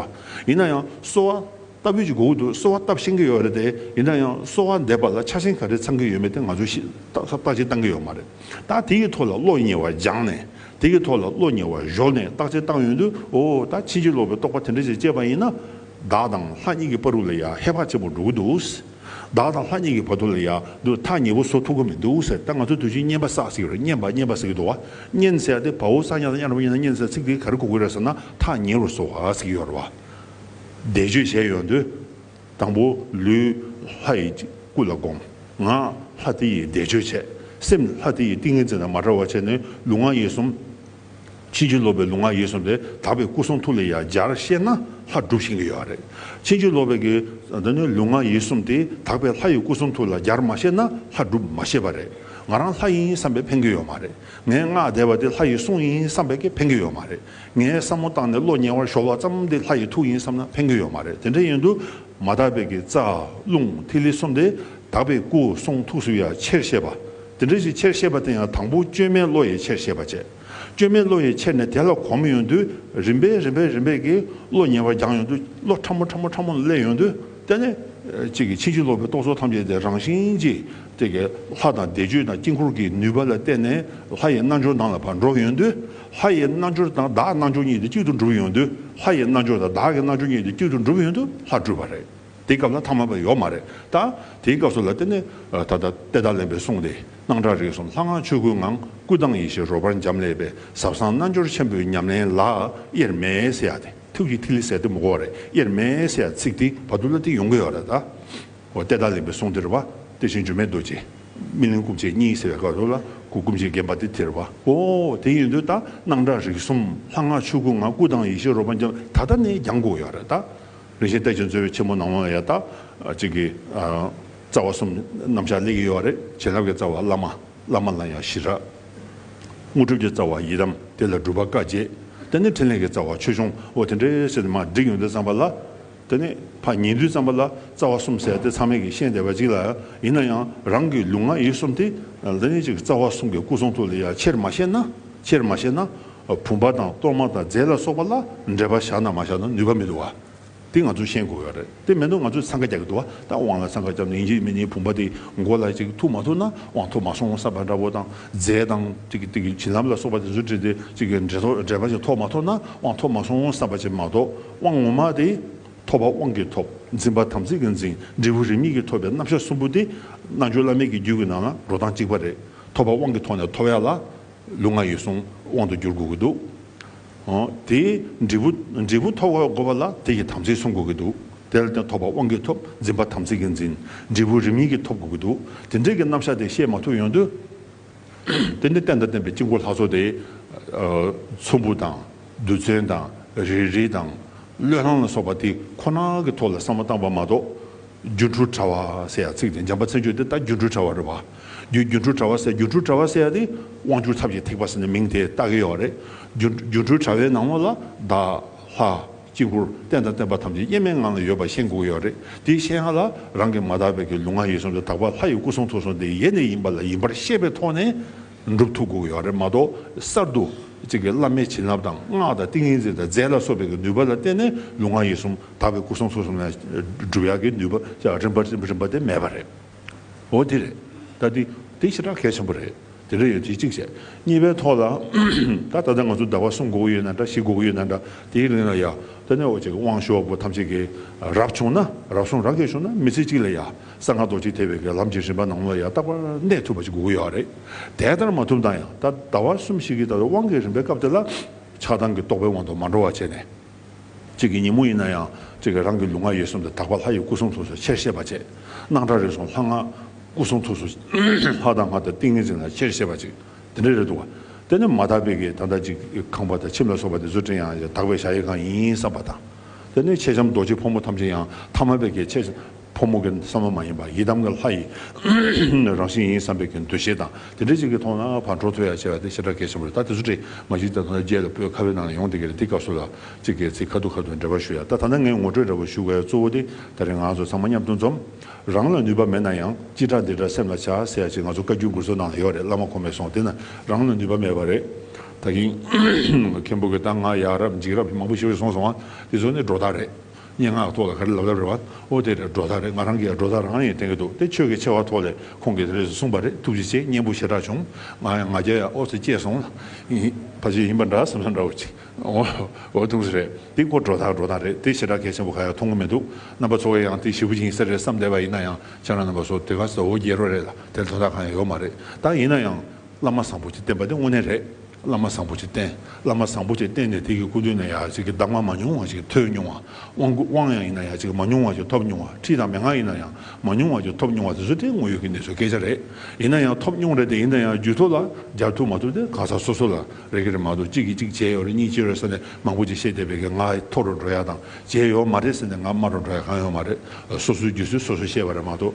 ཡིན་ན་ཡང་གསོལ་བ་བཏབ་ཡོད་ཅེས་སྒུག་གི་འདུག་གསོལ་བ་བཏབ་ཤེས་ཀྱི་ཡོད་རེད་དེ་ཡིན་ན་ཡང་གསོལ་བ་འདེབས་པ་ལ་ཆ་ཞེན་ག་རེ་ཚང་གི་ཡོད་མེད་དེ་ང་ཚོས་ཤེས་རྟགས་ཅིག་བཏང་གི་ཡོད་མ་རེད་ད་དེ་ཡི་ཐོག་ལ་བློ་ཉེ་བ་སྦྱངས་ནས་དེ་ཡི་ཐོག་ལ་བློ་ཉེ་བ་གཞོག་ནས་བརྟག་དཔྱད་བཏང་ཡོད་དུས་འོ་ད་ཕྱིན་ཅི་ལོག་པའི་རྟོག་པ་དེ་འདྲ་ཞིག་སྐྱེས་པ་ཡིན་ན་བདག་དང་ལྷ་གཉིས་ཀྱི་པར་རུ་ལ་ཡ་ཧེ་བག་ཆེན་པོ་འགྲོ་གི་འདུག། བདག་དང་ལྷ་གཉིས་ཀྱི་བར་དུ་ལ་ཡང་དུ་མཐའ་ཉེ་བོ་སོ་ཐུང་གི་མི་འདུག་ཟེར་ད་ང་ཚོ་དུས་ཆེན་བསྙེན་པ་སག་ཟིག་རེད་བསྙེན་པ་བསྙེན་པ་ཟེར་གི་འདུག་བ་བསྙེན་ཟེར་ཏེ་བ་འུ་ས་གཉའ་ས་གཉའ་ར་བ་གཉའ་ས་གཉན་ཟེར་ཚིག་དེ་ག་རེ་གོ་དགོས་རེད་ཟེར་ན་ཐག་ཉེ་བོར་སོ་ཧ་ཟིག་ཡོད་རེད་བ། བཟླས་བརྗོད་བྱས་ཡོང་དུས་དང་པོ་ལུས་ལྷ་ཡི་སྐུ་ལ་བསྒོམ། ངག་ལྷ་དེ་ཡི་བཟླས་བརྗོད་བྱས། སེམས་ལྷ་དེ་ཡི་ཏིང་ངེ་འཛིན་དང་མ་བྲལ་བ་བྱས་ནས་ལུས་ངག་ཡིད་གསུམ། ཕྱིན་ཅི་ལོག་པའི་ལུང་ང་ཡིན་གསུངས་ཏེ་དག་པའི་སྐུ་གསུང་ཐུགས་ལས་ཡང་སྦྱར་བཤད་ན་ལྷ་སྒྲུབ་བྱེད་ཀྱི་ཡོད་རེད། ཕྱིན་ཅི་ལོག་པའི་གི་འདི་ནི་ལུང་ང་ཡིན་གསུངས་ཏེ་དག་པའི་ལྷ་ཡི་སྐུ་གསུང་ཐུགས་ལ་སྦྱར་མ་བཤད་ན་ལྷ་སྒྲུབ་མ་བྱེད་པ་རེད། ང་རང་ལྷ་ཡིན་བསམ་པས་ཕན་གྱི་ཡོད་མ་རེད། ངས་སྔགས་བཟླས་པ་དེ་ལྷ་ཡི་གསུང་ཡིན་བསམ་པས་ཀྱི་ཕན་གྱི་ཡོད་མ་རེད། ངས་བསམ་མོ་བཏང་ནས་བློ་ཉེ་བར་ཞོག་བ་ཙམ་དེ་ལྷ་ཡི་ཐུགས་ཡིན་བསམ་ན་ཕན་གྱི་ཡོད་མ་རེད་དེ་འདྲ་ཡིན་དུ་མ་དག་པའི་གི་རྩ་རླུང་ཐིག་ལེ་གསུམ་དེ་དག་པའི་སྐུ་གསུང་ཐུགས་སུ་ཡང་ཆེར་བཤད་པ། དེ་འདྲ་ཞིག་ཆེར་ཤེས་པ་དེ་ཡང་དང་པོ་བཅོས་མའི་བློ་ཡིས་ཆེར་ཤེས་པ་བྱེད། བཅོས་མའི་བློ་ཡིས་ཆེར་ནས་དེ་ལ་གོ་མི་ཡོང་དུས་རིམ་པས་རིམ་པས་རིམ་པས་ཀྱིས་བློ་ཉེ་བར་སྦྱངས་ཡོང་དུས་བློ་ཕྲ་མོ་ཕྲ་མོ་ཕྲ་མོ་སླེབས་ཡོང་དུས་དེ་ནས། གཅིག་གིས་ཕྱིན་ཅི་ལོག་པའི་རྟོག་ཚོགས་ཐམས་ཅད་དེ་རང་བཞིན་གྱིས་དེ་ཀྱི་ལྷ་དང་བཟླས་བརྗོད་དང་དཀྱིལ་འཁོར་གྱི་ནུས་པ་ལ་བརྟེན་ནས་ལྷ་ཡི་རྣལ་འབྱོར་དང་ལ་བར་འགྲོ་ཡོང་དུས་ལྷ་ཡི་རྣལ་འབྱོར་དང་བདག་རྣལ་འབྱོར་གཉིས་དེ་གཅིག་ཏུ་འགྲུབ་ཡོང་དུས་ལྷ་ཡི་རྣལ་འབྱོར་དང་བདག་གི་རྣལ་འབྱོར་གཉིས་དེ་གཅིག་ཏུ་འགྲུབ་ཡོང་དུས་ལྷ་གྲུབ་པ་རེད། དེའི་སྐབས་ན་ཐ་མལ་པ་ཡོག་མ་རེད་ད། དེའི་སྐབས་སུ་ལ་དེ་ནི་ད་ལྟ་དཔལ་ཐ་ལན་པའི་གསུང་དེ་སྣང་གྲགས་རིགས་གསུམ་ལྷ་སྔགས་ཆོས་སྐུའི་ངང་སྐུ་དང་ཡེ་ཤེས་རོལ་པར་འབྱམས་ཀླས་པའི་ཟབ་གསང་རྣལ་འབྱོར་ཆེན་པོའི་ཉམས་ལེན་ལ་དབྱེར་མེད་སེ་ཡ་སྟེ་ཐུགས་ཀྱི་ཐིག་ལེ་ཟད་དུ་མི་གོ་བ་རེད་དབྱེར་མེད་སེ་ཡ་ཚིག་དེའི་བར་དུ་ལ་དེ་ཡོང་གི་ཡོག་རེད་ད། འོ་དཔལ་ཐ་ལན་པའི་གསུང་དེར་བ་དེ་བཞིན་འགྱུར་མེད་རྡོ་རྗེ་སྨིན་གླིང་སྐུ་མཆེད་གཉིས་ཟེར་བའི་སྐབས་སུ་ལ་སྐུ་སྐུ་མཆེད་རྒན་པ་དེ་དེར་བ་འོ་དེ་ཡིན་དུས་ད་སྣང་གྲགས་རིགས་གསུམ་ལྷ་སྔགས་ཆོས་སྐུའི་ངང་སྐུ་དང་ཡེ་ཤེས་རོལ་པར་འབྱམས་ད་ལྟ་ནས་ཀྱང་གོ་གི་ཡོག་རེད་ད། རིན་ཆེན་སྟེགས་ཀྱི་མཛོད་བའི་ཆེན་མོ་ནང་ལོང་ཡ་དག་ཅིག་གི། རྩ་བ་གསུམ་རྣམ་གཞག་ལས་ཀྱི་ཡོལ་བ་རེ་བྱིན་རླབས་ཀྱི་རྩ་བ་བླ་མ་བླ་མ་ལ་ཡང་ཞི་རགས། དངོས་གྲུབ་ཀྱི་རྩ་བ་ཡི་དམ་དེ་ལ་སྒྲུབ་པ་བཀའ་བརྒྱད་དེ་ནས་ཕྲིན་ལས་ཀྱི་རྩ་བ་ཆོས་འབྱུང་འོ་དེ་འདྲའི་སེར་སྣས་མ་བསྒྲིགས་ཡོན་ཏན་བརྩམས་པ་ལ། དེ་ནས་ཕ་ཉིས་འདུས་བརྩམས་པ་ལ་རྩ་བ་གསུམ་བསལ་ཏེ་ཚང་མས་ཀྱིས་ཤེས་བདེ་བ་ཅིག་ལ། ཡིན་ན་ཡང་རང་གི་ལུས་ངག་ཡིད་གསུམ་དེ། རྩ་བ་གསུམ་གྱི་སྐུ་གསུང་ཐུགས་ལས་ཡ་ཆེར་མ་བཤད་ན། ཆེར་མ་བཤད་ན། བུམ་པ་དང་གཏོར་མ་དང་རྫས་ལ་སོགས་པ་ལ་འབྲེལ་པ་བཞག་ན་མ་བཞག་ན་ནུས་པ་མི་འདུག་བ། དེ་ང་ཚོས་ཤེས་དགོས་བ་རེད་དེ་མེད་ན་ང་ཚོས་ཚང་ཁ་རྒྱག་གི་འདུག་བ་དང་དབང་ལ་ཚང་ཁ་རྒྱབ་ནས་ཡིན་གཅིག་མིན་གཅིག་བུམ་པ་དེ་མགོ་ལ་ཅིག་ཐུག་མ་ཐུག་ན་དབང་ཐོབ་མ་སོང་བསམ་པ་འདྲ་བོ་དང་རྫས་དང་བྱིན་རླབས་ལ་སོགས་པ་དེ་ཚོ་བྲིས་ཏེ་ཅིག་འབྲེལ་པ་ཅིག་ཐོབ་མ་ཐོབ་ན་དབང་ཐོབ་མ་སོང་བསམ་པ་ཅིག་མ་གཏོགས་དབང་ངོ་མ་དེ་ཐོབ་པ་དབང་གིས་ཐོབ་འཛིན་པ་དམ་ཚིག་གིས་འཛིན་འབྲས་བུ་རིས་མེད་ཀྱིས་ཐོབ་པའི་རྣམ་གཞག་གསུམ་པོ་དེ་རྣལ་འབྱོར་བླ་མེད་ཀྱི་རྒྱུད་ཀྱི་ནང་ན་འགྲོ་སྟངས་གཅིག་པ་རེད་ཐོབ་པ་དབང་གིས་ཐོབ་ནས་ཐོབ་ཡག་ལ་ལུག་ང་ཡོད་སོང་དབང་དུ་འགྱུར་དགོས་ཀྱི་འདུག་དེ། འབྲས་བུ་འབྲས་བུ་ཐོབ་དགོས་པ་ལ་དེ་ཡི་དམ་ཚིག་སྲུང་དགོས་ཀྱི་འདུག་དེ་ལ་དེ་ཐོབ་པ་དབང་གིས་ཐོབ་འཛིན་པ་དམ་ཚིག་གིས་འཛིན། འབྲས་བུ་རིམ་གཉིས་ཀྱིས་ཐོབ་དགོས་ཀྱི་འདུག་དེ་འབྲས་ཀྱི་རྣམ་གཞག་དེ་བཤད་མ་ཐུབ་ཡོང་དུས། དེ་ནི་བསྟན་དང་བསྟན་པའི་དཀྱིལ་འཁོར་ལྷ་ཚོགས་དེ། ཚོམ་བུ་དང་རྡུལ་ཚོན་དང་རེ་རེ་དང་བློས་བསླང་ལ་སོགས་པ་དེ་ཁོ་ན་གྱི་ཐོག་ལ་བསམ་བློ་བཏང་བ་མ་གཏོགས། སྒྱུ་འཕྲུལ་དྲ་བ་ཟེར་ཡག་ཚིག་དེ་འཇམ་པ་མཚན་བརྗོད་དེ་ད་སྒྱུ་འཕྲུལ་དྲ་བ་རེད་བ། རྒྱུ་སྒྱུ་འཕྲུལ་དྲ་བ་ཟེར་སྒྱུ་འཕྲུལ་དྲ་བ་ཟེར་ཡག་དེ་དབང་བསྒྱུར་ཚབ་ཀྱི་ཐིགས་པ་ཟེར་ནས་མིང་དེ་བཏགས་ཀྱི་ཡོད་རེད། སྒྱུ་སྒྱུ་འཕྲུལ་དྲ་བའི་ནང་མོ་ལ་བདག། ལྷ། དཀྱིལ་འཁོར་རྟེན་དང་བརྟེན་པ་ཐམས་ཅད་དབྱེར་མེད་ངང་ལ་ཡོད་པ་ཤེས་འགུགས་ཡོད་རེད་དེ་ཤེས་ཡག་ལ་རང་གི་མ་དག་པའི་གི་ལུང་ང་ཡིད་གསུམ་དུ་དག་པ་ལྷ་ཡི་སྐུ་གསུང་ཐུགས་གསུང་དེ་ཡེ་ནས་ཡིན་པ་ལ་ཡིན་པར་ཤེས་པའི་ཐོག་ནས་འགྲུབ་ཐུབ་འགུགས་ཡོད་རེད་མ་གཏོགས་གསར་དུ་གཅིག་གི་བླ་མའི་བྱིན་རླབས་དང་སྔགས་དང་ཏིང་ངེ་འཛིན་དང་རྫས་ལ་སོགས་པའི་གི་ནུས་པ་ལ་བརྟེན་ནས་ལུང་ང་ཡིད་གསུམ་དག་པའི་སྐུ་གསུང་ཐུགས་གསུམ་ལས་སྒྲུབ་ཡག་གི་ནུས་པ་ཅག་རིམ་པ་རིམ་པ་དེ་མེད་པ་རེད། འོ་དེ་རེད། ད་དེ་དེ་ཤིན་ཏུ་གལ་ཆེན་པོ་རེད། དེ་འདྲ་ཡོད་དེ་གཅིག་བྱས། གཉིས་པའི་ཐོག་ལ། ད་ད་ལྟ་ང་ཚོ་ཟླ་བ་གསུམ་དགུ་པོ་ཡོད་ན་འདྲ་བཞི་དགུ་པོ་ཡོད་ན་འདྲ་དེའི་གླིང་ལ་ཡག་ད་ནི་འོ་ཅེ་གི་དབང་ཤོག་བུ་ཐམས་ཅད་ཀྱི་རབ་བྱུང་ན་རབ་གསུང་རབ་རྒྱས་བྱུང་ན་མི་ཚེ་གཅིག་ལ་ཡག་གསང་སྔགས་རྡོ་རྗེ་ཐེག་པའི་གི་ལམ་གྱི་རིམ་པ་ནང་ལ་ཡག་རྟག་པར་གནས་ཐུབ་པ་ཅིག་དགོས་ཀྱི་ཡོད་རེད། དེ་ལྟར་མ་ཐུབ་ན་ཡང་ད་ཟླ་བ་གསུམ་བཞི་གི་ད་དུང་དབང་གི་རིམ་པའི་སྐབས་དེ་ལ་ཆགས་སྡང་གི་རྟོག་པའི་དབང་དུ་མ་འགྲོ་བ་བྱས་ནས། གཅིག་གི་ཉིན་མོ་ཡིན་ན་ཡང་གཅིག་གི་རང་གི་ལུས་ངག་ཡིད་གསུམ་དུ་དག་པ་ལྷ་ཡི་སྐུ་གསུང་ཐུགས་སུ་ཆེར་ཤེས་པ་གཅིག། སྣང་གྲགས་རེ་ཟུང་ལྷ་ངག་སྐུ་གསུང་ཐུགས་སུ། ལྷ་དང་ངག་དང་ཏིང་ངེ་འཛིན་ལ་ཆེར་ཤེས་པ་གཅིག། དེ་འདྲ་རེད་འདུག་ག། དེ་ནི་མ་དག་པའི་གི་ད་ལྟ་གཅིག་གི་ཁང་པ་དང་ཁྱིམ་ལ་སོགས་པ་དེ་ཚུལ་ཁྲིམས་ཡང་དག་པའི་བྱ་ཡི་གང་ཡིན་བསམ་པ་དང། དེ་ནི་མཆེད་ལྕམ་རྡོ་རྗེ་ཕོ་མོ་ཐམས་ཅད་ཡང་དག་མ་པའི་གི་མཆེད། ཕོ་མོ་གི་བསམ་བློ་མ་ཡིན་པར་ཡི་དམ་གྱི་ལྷ་ཡི་རང་བཞིན་ཡིན་བསམ་པའི་གྱི་འདུ་ཤེས་དང་དེ་འདྲའི་ཅིག་གི་ཐོག་ན་བར་འགྲོ་ཐུ་ཡ་ཆེ་བ་དེ་ཤ་ཁྲག་གལ་ཆེན་པོ་རེད་ད་དེ་ཚོ་དྲིས་མ་གཞི་ད་དོན་རྒྱལ་ལ་པོའི་ཁ་བའི་ནང་ལ་ཡོང་དེ་གི་རེད་དེ་སྐབས་སུ་ལ་ཅིག་གི་ཚིག་ཁ་ཐུ་ཁ་ཐུ་འབྲེལ་བ་ཞུ་ཡ་ད་ད་ནི་ངས་ངོ་སྤྲོད་འདྲ་པོ་ཞུ་ག་ཡ་གཙོ་བོ་དེ་ད་རེས་ང་ཚོ་ཚང་མ་མཉམ་དུ་འཛོམས། རང་ལ་ནུས་པ་མེད་ན་ཡང་ཅི་དྲག་འདི་དྲག་སེམས་ལ་བྱ་ཟེར་ཡ་ཅིག་ང་ཚོ་བཀའ་བརྒྱུད་མགུར་ཚོ་ནང་ལ་ཡོད་རེད་བླ་མ་ཁོ་མེད་སོང་དེ་ན་རང་ལ་ནུས་པ་མེད་པ་རེད་ད་གིན། མཁན་པོ་གི་ད་ང་ཡག་རབས་འཇིགས་རབས་མང་པོ་ཞིག་རེད་སོང་སོང་བ་དེ་ཚོ་ནི་སྒྲོ་བཏགས་རེད། སྙན་ངག་ཐོག་ལ་ག་རེ་ལབ་ལབ་རེད་བ། ཨོ་དེ་རེད་སྒྲོ་ཐག་རེད་ང་རང་གིས་ཡང་སྒྲོ་ཐག་རང་ཡིན་བསྟན་གྱི་འདུག་དེ་ཆོས་ཀྱི་ཆེ་བ་ཐོག་ལས་ཁོང་གིས་དེ་རེད་ཟེར་གསུངས་པ་རེད་ཐུགས་རྗེ་ཆེ་སྙན་པོ་ཞེ་དྲག་བྱུང་ང་ཡང་ང་རྒྱལ་ཡང་ཨོ་ཟེར་སྐྱེས་སོང་ལ། ཕ་ཆོས་ཡིན་པ་འདྲ་བསམ་ས་འདྲ་བོ་ཅིག་ཨོ་ཐུགས་རྗེ་རེད་དེ་སྐོར་སྒྲོ་ཐག་སྒྲོ་ཐག་རེད་དེ་ཞེ་དྲག་གལ་ཆེན་པོ་ག་ཡང་མཐོང་གི་མི་འདུག་རྣམ་པ་ཚོ་བས་ཡང་དེ་ཞེ་བུ་ཅིག་ཡིན་ས་རེད་བསམ་བསྡད་པ་ཡིན་ན་ཡང་ཆ་རང་རྣམ་པ་ཚོ་དེ་ག་ཟེར་ཨོ་རྒྱལ་རོ་རེད་ལ་དེར་དོན་དག་གང་ཡང་ཡོད་མ་རེད་ད་ཡིན་ན་ཡང། བླ་མ་བཟང་པོ་གཅིག་བསྟེན་པ་དེ་དངོས་གནས་རེད། བླ་མ་བཟང་པོ་གཅིག་བསྟེན། བླ་མ་བཟང་པོ་གཅིག་བསྟེན་ནས་དེ་གི་སྐུ་མདུན་ནས་ཡག་ཅིག་གི་གདམས་ངག་མ་ཉུང་བ་ཞིག་ཐོས་མྱོང་བ། དབང་སྐུར་དབང་ཡང་ཡིན་ན་ཡག་ཅིག་གི་མ་ཉུང་བ་ཞིག་ཐོབ་མྱོང་བ། ཁྲིད་དང་མན་ངག་ཡིན་ན་ཡང་མ་ཉུང་བ་ཞིག་ཐོབ་མྱོང་བ་དེ་ཚོ་དེ་དངོས་ཡོད་ཀྱི་གནས་ཚུལ་སྐད་ཆ་རེད། ཡིན་ན་ཡང་ཐོབ་མྱོང་རེད་དེ་ཡིན་ན་ཡང་རྒྱུད་ཐོག་ལ་སྦྱར་ཐུབ་མ་ཐུབ་དེ་གང་ཟག་སོ་སོ་ལ་རེག་གི་རེད་མ་གཏོགས་གཅིག་གིས་གཅིག་བྱས་ཡོད་རེད་གཉིས་བྱས་ཡོད་ས་ནས་མང་པོ་ཅིག་བཤད་བསྡད་པས་ཀྱི་ང་ཐོག་རུ་འགྲོ་ཡག་དང་བྱས་ཡོད་མ་རེད་ཟེར་ནས་ང་སྨྲ་རུ་འགྲོ་ཡག་གང་ཡོད་མ་རེད། སོ་སོའི་རྒྱུད་ཚུལ་སོ་སོས་ཤེས་པ་རེད་མ་གཏོགས་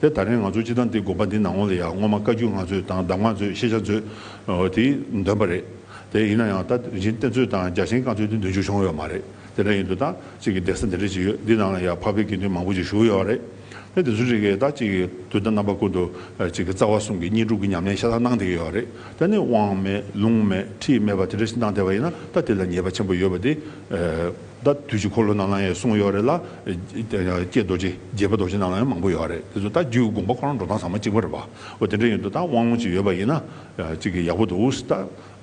དེ་ད་རེས་ང་ཚོ་སྤྱི་བཏང་འདི་དགོངས་པ་འདི་ནང་ངོ་ལ་ཡག་སྔོན་མ་བཀའ་བརྒྱུད་ང་ཚོས་དང་གདམས་ངག་མཛོད་ཤེས་བྱ་མཛོད། དེ་འདོན་པ་རེད་དེ། ཡིན་ན་ཡང་ད་རིན་ཆེན་གཏེར་མཛོད་དང་རྒྱ་ཆེན་བཀའ་མཛོད་དེ་འདོན་རྒྱུ་བྱུང་ཡོད་མ་རེད། དེ་འདྲ་ཡིན་དུས་ད་གཅིག་གི་གདན་ས་འདི་འདྲ་ཅིག་ཡོད་འདི་ནང་ལ་ཡང་འཕགས་པའི་དགེ་འདུན་མང་པོ་ཅིག་བཞུགས་ཡོད་བ་རེད། དེ་དེ་ཚོ་རིག་གི་ད་གཅིག་དུས་ད་རྣམ་པ་ཀུན་ཏུ་གཅིག་རྩ་བ་གསུམ་གྱི་གཉིས་སྒྲུབ་ཀྱི་ཉམས་ལེན་ཤ་སྟག་གནང་བསྡད་ཀྱི་ཡོད་བ་རེད་དེ། དབང་མེད་ལུང་མེད་ཁྲིད་མེད་པ་དེ་འདྲ་ཞིག་གནང་བསྡད་པ་ཡིན་ན་ད་དེ་ལ་ཉེས་པ་ཆེན་པོ་ཡོད་བ་དེ། ད་དུས་ཀྱི་འཁོར་ལོ་རྣམས་ལའང་ཡང་གསུངས་ཡོད་རེད་ལ། ཀྱེ་རྡོ་རྗེ་རྒྱལ་པོ་རྡོ་རྗེ་རྣམས་ལའང་མང་པོ་ཡོད་རེད་དེ་ཚོ་ད་རྒྱུད་ཀྱི་དགོངས་པ་ཁོ་རང་འགྲོ་སྟངས་ཚང་མ་གཅིག་པ་རེད་བ། འོ་དེ་འདྲ་ཡིན་དུ་ད་དབང་ལུང་ཅིག་ཡོད་པ་ཡིན་ན་ཅིག་གི་ཡག་པོ་འདུག་ད་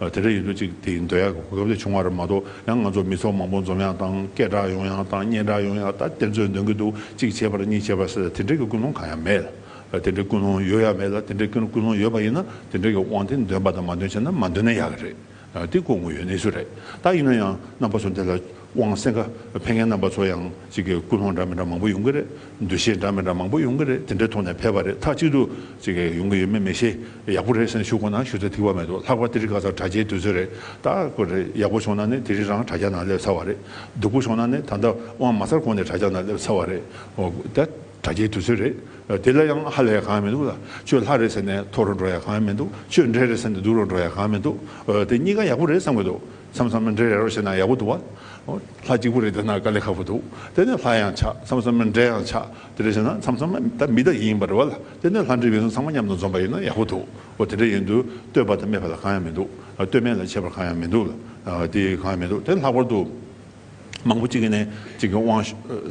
དེ་འདྲ་ཡིན་དུ་ཅིག་དེ་འདོད་ཡག་གི་གོ་སྐབས་དེ་བྱུང་བ་རེད་མ་གཏོགས་ཡང་ང་ཚོ་མི་ཚོགས་མང་པོ་འཛོམས་ཡག་དང་སྐད་གྲགས་ཡོང་ཡག་དང་སྙན་གྲགས་ཡོང་ཡག་ད་དེ་ཚོས་འདོན་གྱི་འདུག་གཅིག་བྱས་པར་གཉིས་བྱས་པར་ཟེར་དེ་འདྲས་ཀྱི་ཀུན་སློང་གང་ཡང་མེད། དེ་འདྲས་ཀུན་སློང་ཡོད་ཡག་མེད་ལ་དེ་འདྲས་ཀུན་སློང་ཡོད་པ་ཡིན་ན་དེ་འདྲས་ཀྱི་དབང་དེ་འདོན་པ་དང་མ་འདོན་བྱས་ན་མ་འདོན་ན་ཡག་གི་རེད་འདི་གོ་དགོས་ཡོད་གནས་ཚུལ་རེད་ད་ཡིན་ན་ཡང་རྣམ་པ་ཚོ་འདི་ལ་དབང་སེང་ཁ་འཕེན་མཁན་རྣམ་པ་ཚོ་ཡང་ཅིག་གིས་ཀུན་སློང་འདྲ་མི་འདྲ་མང་པོ་ཡོང་གི་རེད་འདུ་ཤེས་འདྲ་མི་འདྲ་མང་པོ་ཡོང་གི་རེད་དེ་འདྲའི་ཐོག་ནས་ཕེབས་པ་རེད་ཐག་གཅིག་ཏུ་ཅིག་གིས་ཡོང་གི་ཡོད་མེད་མི་ཤེས་ཡག་པོ་རེད་སེམས་ཤུགས་ཁོ་ན་ཞུ་ཚད་ཐིག་པ་མེད་འདུག་ལྷག་པར་དེ་རིགས་ག་ཚག་དྲ་རྒྱའི་དུས་ཚོད་རེད་ད་ཁོ་རེ་ཡག་པོ་བྱུང་ན་ནི་དེ་རིང་རང་དྲ་རྒྱ་ནང་སླེབས་ཚར་བ་རེད་སྡུག་པོ་བྱུང་ན་ནི་ད་ལྟ་དབང་མ་ཚར་གོང་ནས་དྲ་རྒྱ་ནང་སླེབས་ཚར་བ་རེད་དེ། དྲ་རྒྱའི་དུས་ཚོད་རེད། དེ་ལ་ཡང་ཧ་ལས་གང་ཡང་མི་འདུག་ལ། ཁྱོད་ལྷ་རེད་ཟེར་ནས་ཐོ་རུ་འགྲོ་ཡ་གང་ཡང་མི་འདུག་ཁྱོད་འདྲེ་རེད་ཟེར་ནས་སྡུག་རུ་འགྲོ་ཡ་གང་ཡང་མི་འདུག་དེ་གཉིས་ཀ་ཡག་པོ་རེད་བསམ་གྱི་འདུག་མཚམས་མཚམས་མི་འདྲེ་རེད་རོགས་བྱས་ན་ཡག་པོ་འདུག་བ། ལྷ་གཅིག་པུ་རེད་ཟེར་ན་དཀའ་ལས་ཁག་པོ་འདུག་དེ་ནས་ལྷ་ཡང་ཆགས་མཚམས་མཚམས་མི་འདྲེ་ཡང་ཆགས་དེ་འདྲ་བྱས་ན་མཚམས་མཚམས་ད་མི་ད་ཡིན་པ་རེད་བ་ལ་དེ་ནས་ལྷ་འདྲེ་མི་གསུམ་ཚང་མ་མཉམ་དུ་འཛོམས་པ་ཡིན་ན་ཡག་པོ་འདུག་དེ་འདྲ་ཡིན་དུས་བསྟོད་པ་དང་སྨད་པ་ལ་གང་ཡང་མི་འདུག་བསྟོད་སྨད་ལ་ཆད་པར་གང་ཡང་མི་འདུག་ལ་དེ་གང་ཡང་མི་འདུག་དེ་ལྷག་པར་དུ། མང་པོ་གཅིག་གི་ནས་གཅིག་གི་དབང།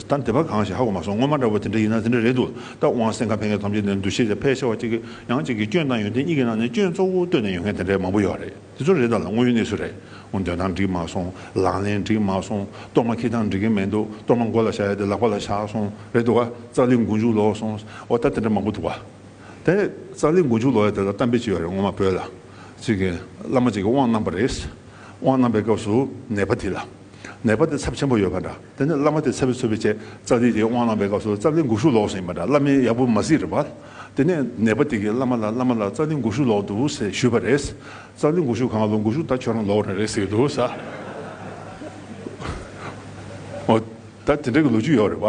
ད་འདི་པ་གང་ཞིག་ཧ་གོ་མ་སོང་སྔོན་མ་འདྲ་བོ་དེ་འདྲ་ཡིན་ན་དེ་འདྲ་རེད་འདུག་ད་དབང་སེང་ག་ཕལ་སྐད་ཐམས་ཅད་ནས་འདུ་ཤེས་ཀྱང་ཕལ་ཆེ་བ་གཅིག་གི་ཡང་གཅིག་གི་སྐྱོན་བཏང་ཡོད་དེ་གཉིས་ཀྱི་ནང་ནས་སྐྱོན་གཙོ་བོ་བཏོན་ནས་ཡོད་མཁན་དེ་འདྲ་མང་པོ་ཡོད་རེད་དེ་ཚོ་རེད་ད་ལ་དངོས་ཡོད་གནས་ཚུལ་རེད་དངོས་འདོན་སྟངས་འགྲིག་མ་སོང་ལག་ལེན་འགྲིག་མ་སོང་གཏོར་མ་འཁྱིལ་སྟངས་འགྲིག་གི་མི་འདུག་གཏོར་མ་མགོ་ལ་བཞག་ཡ་དེ་ལག་པ་ལ་བཞག་སོང་རེད་འདུག་ཙག་ལི་མགོ་མཇུག་ལོག་སོང་ཨོ་ད་དེ་འདྲ་མང་པོ་འདུག་བ། དེ་ཙག་ལི་མགོ་མཇུག་ལོག་ཡ་དེ་ལ་གཏམ་དཔེ་གཅིག་ཡོད་རེད་སྔོན་མ་བོད་ལ། ཚིག་གི་བླ་མ་གཅིག་གི་དབང་རྣམ་པ་རེད། དབང་རྣམ་པའི་སྐབས་སུ་ནད་པ་དེ་ལ་ནད་པ་དེ་ཚབས་ཆེན་པོ་ཡོད་པ་འདྲ། དེ་ནས་བླ་མ་དེ་ཚབས་ཚུད་པའི་ཆེད་རྩ་འདི་དེའི་དབང་རྣམ་པའི་སྐབས་སུ་རྩ་འདི་འགུགས་ཤུགས་ལོག་ཟིན་པ་འདྲ་བླ་མའི་ཡག་པོ་མ་གཟིགས་རེད་པ། དེ་ནས་ནད་པ་དེ་གིས་བླ་མ་ལ་བླ་མ་ལ་རྩ་འདི་འགུགས་ཤུགས་ལོག་འདུག་ཟེར་ཞུས་པ་རེད། རྩ་འདི་འགུགས་ཤུགས་གང་ལོག་འགུགས་ཤུགས་ད་ཁྱོད་རང་ལོག་རེད་རེད་ཟེར་གྱི་འདུག་ས། འོ་ད་དེ་འདྲ་གི་ལོ་རྒྱུས་ཡོད་རེད་པ།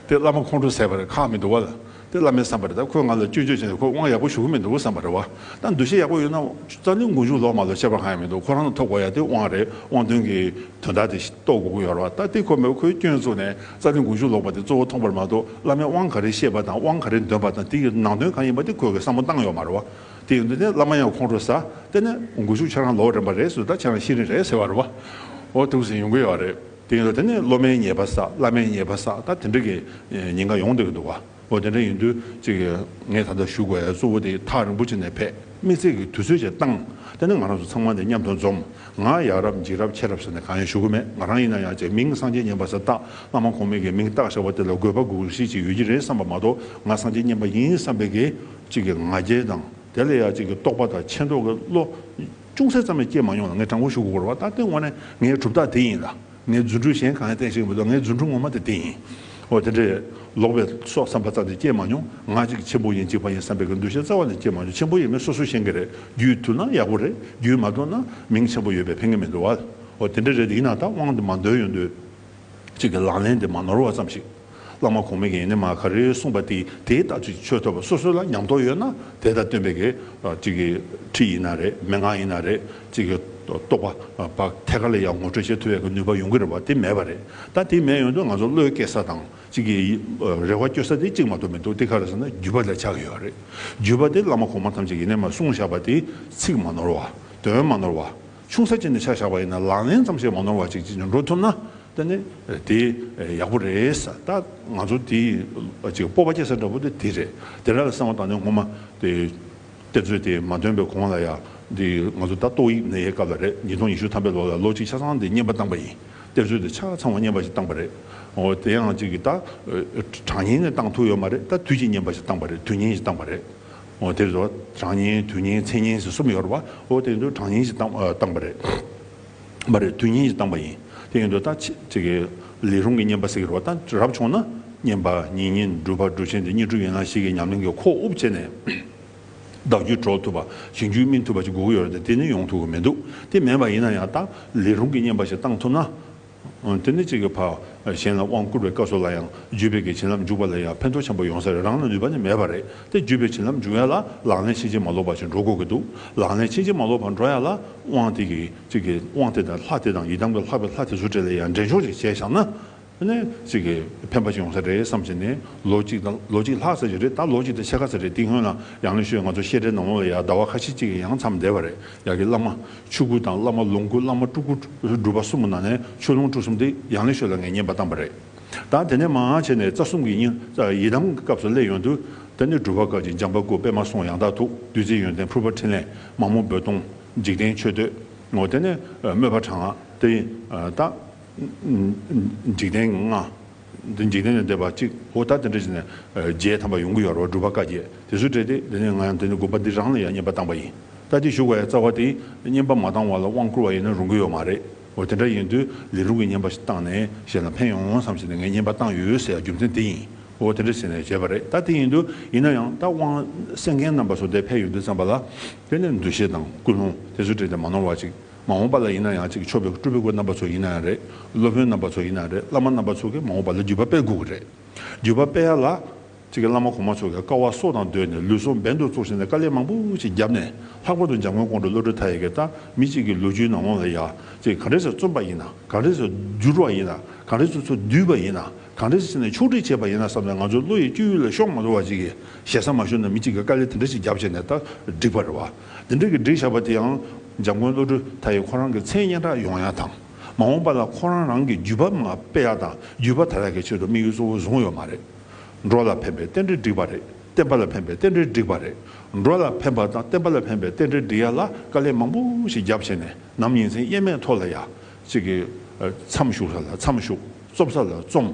དེ་བླ་མ་ཁོང་ཁྲོ་ཟད་པ་རེད་ཁག་མི་འདུག་བ་ལ། དེ་བླ་མའི་བསམ་པ་རེད་ད་ཁོས་ང་ལ་སྐྱོན་བརྗོད་བྱས་ནས་ཁོ་དབང་ཡག་པོ་ཞུ་གི་མི་འདུག་བསམ་པ་རེད་བ་ད་འདུ་ཤེས་ཡག་པོ་ཡོད་ན་རྩ་ལུས་མགོ་མཇུག་ལོག་མ་ལོག་ཁྱད་པར་གང་ཡང་མི་འདུག་ཁོ་རང་ལ་ཐོབ་གོ་ཡ་དེ་དབང་རེད་དབང་དོན་གྱི་དོན་དག་དེ་རྟོགས་དགོས་ཀྱི་ཡོད་རེད་བ་ད་དེ་ཁོ་མེད་པ་ཁོའི་སྐྱོན་བཙུགས་ནས་རྩ་ལུས་མགོ་མཇུག་ལོག་པ་དེ་གཙོ་བོ་མཐོང་པར་མ་གཏོགས་བླ་མས་དབང་ག་རེ་བཤད་པ་དང་དབང་ག་རེ་འདོན་པ་དང་དེ་ཡི་ནང་དོན་གང་ཡིན་པ་དེ་ཁོས་བསམ་བློ་བཏང་ཡོད་མ་རེད་བ་དེ་ཡིན་དུས་ནས་བླ་མ་ཡང་ཁོང་ཁྲོ་ཟ་དེ་ནས་མགོ་མཇུག་ཁྱེད་རང་ལོག་རན་པ་རེད་ཟོས་ད་ཁྱེད་རང་ཤི་རན་རེད་ཟེར་བ་རེད་བ་འོ་ཐུགས་ཟིན་ཡོང་གི་ཡོད་རེད། དེ་ཡིན་ན་དེ་ནི་སློབ་མའི་ཉེས་པ་བསགས་བླ་མའི་ཉེས་པ་བསགས་ད་དེ་འདྲ་གི་ཉེན་ཁ་ཡོང་སྡོད་ཀྱི་འདུག་ཨོ་དེ་འདྲ་ཡིན་དུས་ཅིག་ངས་ད་ལྟ་བཞུགས་པའི་གཙོ་བོ་དེ་ཐག་རིང་པོ་ཅིག་ནས་ཕེབས་དམིགས་བརྩེ་གི་དུས་ཚོད་ཅིག་བཏང་དེ་ནི་ང་རང་ཚོ་ཚང་མ་འདི་མཉམ་དུ་འཛོམས་ང་ཡག་རབས་འཇིགས་རབས་ཆེ་རབས་ཟེར་ནས་གང་ཡང་ཞུ་གི་མེད་ང་རང་ཡིན་ན་ཡང་ཅིག་མིང་སངས་རྒྱས་སྙན་པ་ཟེར་སྟབས་བླ་མ་གོང་མས་ཀྱི་མིང་བཏགས་ཞེས་པ་དེ་ལ་དགོས་པ་དགོས་གཞི་ཅིག་ཡོད་ཀྱི་རེད་བསམ་པ་མ་གཏོགས་ང་སངས་རྒྱས་སྙན་པ་ཡིན་བསམ་པའི་གི་ཅིག་གི་ང་རྒྱལ་དང་དེ་ལ་ཡང་ཅིག་གི་རྟོག་པ་དང་ཆེ་མདོག་གི་བློ་ཅུང་ཟད་ཙམ་ཡང་སྐྱེལ་མ་ཡོང་ལ་ངས་དྲང་པོ་ཞུ་དགོས་སྐོར་བ་ད་ལྟའི་དབང་ནི་ངའི་གྲུབ་རྟགས་དེ་ཡིན་ལ། ངའི་རྫུ་འཕྲུལ་གཞན་གང་ཡང་བསྟན་ཤེས་ཀྱི་མི་འདུག་ལ་ངའི་རྫུ་འཕྲུལ་ངོ་མ་དེ་དེ་ཡིན། འོ་དེ་འདྲས། ལོག་པའི་སྲོག་བསམ་པ་རྩ་དེ་སྐྱེལ་མ་མྱོང། ང་གཅིག་ཆེན་པོ་ཡིན་གཅིག་པ་ཡིན་བསམ་པའི་གི་འདུ་ཤེས་རྩ་བ་ནས་སྐྱེལ་མ་མྱོང་ཆེན་པོ་ཡིན་མིན་སོ་སོའི་ཤེས་ཀྱི་རེད་རྒྱུས་ཐུབ་ན་ཡག་པོ་རེད་རྒྱུས་མ་ཐུབ་ན་མིང་ཆེན་པོ་ཡོད་པའི་ཕན་ཀྱི་མི་འདུག་བ། འོ་དེ་འདྲས་རེད་དེ་ཡིན་ན་ད་དབང་དེ་མ་འདོན་ཡོང་དུས། གཅིག་གི་ལག་ལེན་དེ་མ་ནོར་བ་ཙམ་ཞིག། བླ་མ་གོང་མས་ཡེ་ནས་མ་ག་རེ་གསུངས་པ་དེ་དེའི་ལྟ་ཚུལ་གྱི་ཆོས་ཐོབ་པ་སོ་སོ་ལ་ཉམས་རྟོགས་ཡོད་ན་དེ་ལྟར་སྟོན་པའི་ཁྲིད་ཡིན་ན་རེད་མན་ངག་ཡིན་ན་རེད་ཅེས་རྟོགས་པ་ཐད་ཀར་ལ་ཡང་ངོ་སྤྲོད་བྱེད་ཐུབ་པའི་ནུས་པ་ཡོང་གི་རེད་བ་དེ་མེད་པ་རེད་ད་དེ་མེད་ཡོང་དུས་ང་ཚོ་བློའི་སྐྱེ་ས་དང་རེ་བ་བཅོལ་ས་དེ་གཅིག་མ་གཏོགས་མི་འདུག་དེ་ག་རེ་ཟེར་ན་བརྒྱུད་པ་ལས་ཆགས་ཡོད་རེད་བརྒྱུད་པ་དེ་བླ་མ་གོང་མ་ཐམས་ཅད་ཡེ་ནས་མ་གསུངས་བཞག་པ་དེ་ཚིག་མ་ནོར་བ་དོན་མ་ནོར་བ། ཆུང་ས་ཅན་དུ་ཆ་བཞག་པ་ཡིན་ན་ལག་ལེན་ཙམ་ཞིག་མ་ནོར་བ་ཅིག་ཅིག་འགྲོ་ཐུབ་ན་ད་ནི་དེ་ཡག་པོ་རེད་ད་ང་ཚོ་དེ་ཅིག་སྤོབས་པ་སྐྱེ་ས་འདྲ་པོ་དེ་དེ་རེད་དེ་འདྲ་ལ་སེམས་བ་དང་ནི་ངོ་མ་དེ་གཏེར་མཛོད་དེ་མ་ཐོན་པའི་གོང་ལ་ཡང་དེ་ང་ཚོ་ད་ཏོག་དབྱིག་གནས་ཡའི་སྐབས་ལ་རེད་ཉིས་སྟོང་ཉི་ཤུ་ཐམ་པའི་ལོ་ལ་ལོ་གཅིག་ཆ་ཚང་དེ་བསྙེན་པ་བཏང་པ་ཡིན་གཏེར་མཛོད་དེ་ཆ་ཚང་བ་བསྙེན་པ་ཞིག་བཏང་པ་རེད་འོ་དེ་ཡང་ཅིག་གིས་ད་གྲངས་ཉིན་ནས་བཏང་ཐུག་ཡོད་མ་རེད་ད་དུས་ཀྱི་བསྙེན་པ་ཞིག་བཏང་པ་རེད་དུས་ཉིན་ཞིག་བཏང་པ་རེད། ཨོ་དེ་ཚོ་གྲངས་བསྙེན་དུས་བསྙེན་ཚེས་བསྙེན་ཞེས་གསུམ་ཡོད་རེད་བ། ཨོ་དེ་ཚོ་གྲངས་བསྙེན་ཞེས་བཏང་བ་རེད། མ་རེད་དུས་བསྙེན་ཞེས་བཏང་བ་ཡིན། དེ་ཡིན་དུ་ད་ཅི་གི། ལས་རུང་གི་བསྙེན་པ་ཟེར་གི་རེད་བ། ད་རབ་བྱུང་ན། བསྙེན་པ་ཉིན་བསྙེན་སྒྲུབ་པ་སྒྲུབ་ཆེན་དེ་གཉིས་གྲུབ་ཡོད་ན་ཞིག་གི་ཉམས་ལེན་གྱི་ཁོག་དབུབ་བྱས་ནས། བདག་རྒྱུད་གྲོལ་ཐུབ་པ་ཞིང་རྒྱུད་སྨིན་ཐུབ་པ་ཞིག་དགོས་ཀྱི་ཡོད་རེད་དེ་ནི་ཡོང་ཐུབ་ཀྱི་མི་འདུག་དེ་མེད་པ་ཡིན་ན་ཡང་ད། ལས་རུང་གི་བསྙེན་པ་ཞིག་བཏང་ཐུབ་ན། དེ་ནི་གཅིག་གི་བར་གཞན་ལ་དབང་བསྐུར་བའི་སྐབས་སོགས་ལ་ཡང་བརྒྱུད་པའི་གི་བྱིན་རླབས་འཇུག་པ་ལ་ཡང་ཕན་ཐོགས་ཆེན་པོ་ཡོང་ས་རེད་རང་ལ་ནུས་པ་ནི་མེད་པ་རེད་དེ་བརྒྱུད་པའི་བྱིན་རླབས་འཇུག་ཡ་ལ་ལག་ལེན་ཕྱིན་ཅི་མ་ལོག་པ་ཞིག་འགྲོ་དགོས་ཀྱི་འདུག་ལག་ལེན་ཕྱིན་ཅི་མ་ལོག་པར་འགྲོ་ཡ་ལ་དབང་དེ་གི་གཅིག་གི་དབང་དེ་དང་ལྷ་དེ་དང་ཡི་དམ་གྱི་ལྷག་པའི་ལྷ་དེ་ཚུར་སྤྲད་ལ་ཡང་འགྲན་ཤོག་ཅིག་བྱས་བཞག་ན་ནི་གཅིག་གི་ཕན་པ་ཞིག་ཡོང་ས་རེད་བསམ་བཞིན་ནི་ལོ་གཅིག་དང་ལོ་གཅིག་ལྷག་ས་ཞིག་རེད་ད་ལོ་གཅིག་དང་ཕྱེད་ཀ་ས་རེད་དེ་སྔོན་ལ་ཡང་ནི་ཤོད་ང་ཚོ་བཤད་གྲྭའི་ནང་ལོགས་ལ་ཡང་ཟླ་བ་ཁ་ཤས་གཅིག་གི་ཡང་མཚམས་འདས་པ་རེད། ཡག་གི་བླ་མ་ཆོས་སྐུ་དང་བླ་མ་ལོངས་སྐུ་བླ་མ་སྤྲུལ་སྐུ་སྒྲུབ་པ་གསུམ་ནང་ནས་ཆོས་ལོངས་སྤྲུལ་གསུམ་དེ་ཡང་ལེ་ཤོད་ལ་ངས་ཉན་པ་བཏང་བ་རེད་ད་དེ་ནས་མང་ཡང་བྱས་ནས་རྩ་གསུམ་གྱི་ཡི་དམ་གྱི་སྐབས་སུ་སླེབས་ཡོང་དུས་ད་ནི་སྒྲུབ་པ་སྐབས་ཀྱི་འཇམ་པ་སྐུ་པད་མ་སོང་ཡང་དག་ཐུགས་བདུད་རྩི་ཡོན་ཏན་ཕུར་པ་ཕྲིན་ལས་མ་མོ་རྦོད་གཏོང་འཇིག་རྟེན་མཆོད་བསྟོད་ངོ་དེ་ནས་དམོད་པ་གྲངས་དེ་ཡིན་ད། འཇིག་རྟེན་ལྔ། འདི་འཇིག་རྟེན་ལས་འདས་པ་གཅིག་གོ་ད་དེ་འདྲ་བྱས་ནས་རྗེས་དམ་པ་ཡོང་གི་ཡོད་རོགས་སྒྲུབ་པ་བཀའ་རྒྱས་དེ་སུས་སྤྲད་དེ་དེ་ནས་ང་ཡང་དེ་ནས་དགོན་པ་འདི་རང་ལ་ཡང་བསྙེན་པ་བཏང་པ་ཡིན་ད་དེ་བཞུགས་པ་ཡང་རྩ་བ་དེ་བསྙེན་པ་མ་བཏང་བ་ལ་དབང་བསྐུར་བ་ཡིན་ན་རུང་གི་ཡོད་མ་རེད་འོ་དེ་འདྲ་ཡིན་དུས་ལས་སྒྲུབ་ཀྱི་བསྙེན་པ་བཏང་ནས་གཞན་ལ་ཕན་ཡོང་བསམ་བྱས་ནས་ངས་བསྙེན་པ་བཏང་ཡོད་ཟེར་ཡ་རྒྱུ་མཚན་དེ་ཡིན་འོ་དེ་འདྲ་བྱས་ནས་བྱས་པ་རེད་ད་དེ་ཡིན་དུས་ཡིན་ན་ཡང་ད་དབང་གསན་མཁན་རྣམ་པ་སོ་དེ་ཕན་ཡོད་དུས་བརྩམས་པ་ལ་དེ་ནས་འདུ་ཤེས་དང་ཀུན་སློང་དེ་སུས་སྤྲད་དེ་མ་ནོར་བ་གཅིག། མ་འོངས་པ་ལ་ཡིན་ན་ཡང་གཅིག་མཆོད་པའི་སྐུ་སྤྲུལ་པའི་སྐུ་རྣམ་པ་ཚོ་ཡིན་ན་ཡང་རེད། སློབ་དཔོན་རྣམ་པ་ཚོ་ཡིན་ན་ཡང་རེད་བླ་མ་རྣམ་པ་ཚོ་གིས་མ་འོངས་པ་ལ་བརྒྱུད་པ་སྤེལ་དགོས་གི་རེད། བརྒྱུད་པ་སྤེལ་ཡ་ལ། གཅིག་གི་བླ་མ་གོང་མ་ཚོ་གིས་དཀའ་བ་སྲོག་དང་བསྡོས་ནས་ལུས་སྲོག་འབེན་དུ་བཙུགས་ཟིན་ནས་དཀའ་ལས་མང་པོ་ཞིག་བརྒྱབ་ནས་ལྷག་པར་དུ་འཇམ་མགོན་དགོང་དྲོ་བློ་གྲོས་མཐའ་ཡས་ཀྱི་ལྟ་མི་གཅིག་གི་ལོ་རྒྱུས་ནང་ལོང་ལ་ཡ་གཅིག་གངས་རི་སོགས་བཙོན་པ་ཡིན་ན་གངས་རི་སོགས་བསྒྱུར་བ་ཡིན་ན་གངས་རི་སོ་སོ་བསྡུས་པ་ཡིན་ན་གངས་རི་སོ་སོ་ནས་ཕྱོགས་སྒྲིག་བྱས་པ་ཡིན་ན་བསམ་ནས་ང་ཚོའི་བློ་ཡི་སྤྱོད་ཡུལ་ལ་ཤོག་མ་འགྲོ་བ་ཅིག་གིས་ཞེ་ས་མ་ཞུ་ན་མི་གཅིག་གིས་དཀའ་ལས་དེ་འདྲ་ཞིག་བརྒྱབ་བྱས་ནས་ལྟ་སྒྲིག་པར་རེ་བ། འདི་འབྲེལ་གྱི་འགྲེལ་བྱ་བ་དེ་ཡང་འཇམ་མགོན་བློ་གྲོས་མཐའ་ཡས་ཁོ་རང་གི་མཚན་སྙན་གྲགས་ཡོང་ཡག་དང་མ་འོངས་པ་ལ་ཁོ་རང་རང་གི་བརྒྱུད་པ་མ་སྤེལ་ཡག་དང་བརྒྱུད་པ་དར་ཡག་གི་ཆེད་དུ་དམིགས་ཡུལ་གཙོ་བོ་བཟུང་ཡོད་མ་རེད། འགྲོ་ལ་ཕན་པའི་རྟེན་འབྲེལ་འགྲིག་པ་རེད་བསྟན་པ་ལ་ཕན་པའི་རྟེན་འབྲེལ་འགྲིག་པ་རེད་འགྲོ་ལ་ཕན་པ་དང་བསྟན་པ་ལ་ཕན་པའི་རྟེན་འབྲེལ་འགྲིག་ཡག་ལ་དཀའ་ལས་མང་པོ་ཞིག་རྒྱབ་བྱས་ནས་ནམ་ཡིན་མཚན་སྙན་མེད་ཐོག་ལ་ཡག་ཅིག་གི་མཚམས་ཞུགས་ས་ལ་མཚམས་ཞུགས་རྩོམ་ས་ལ་རྩོམ།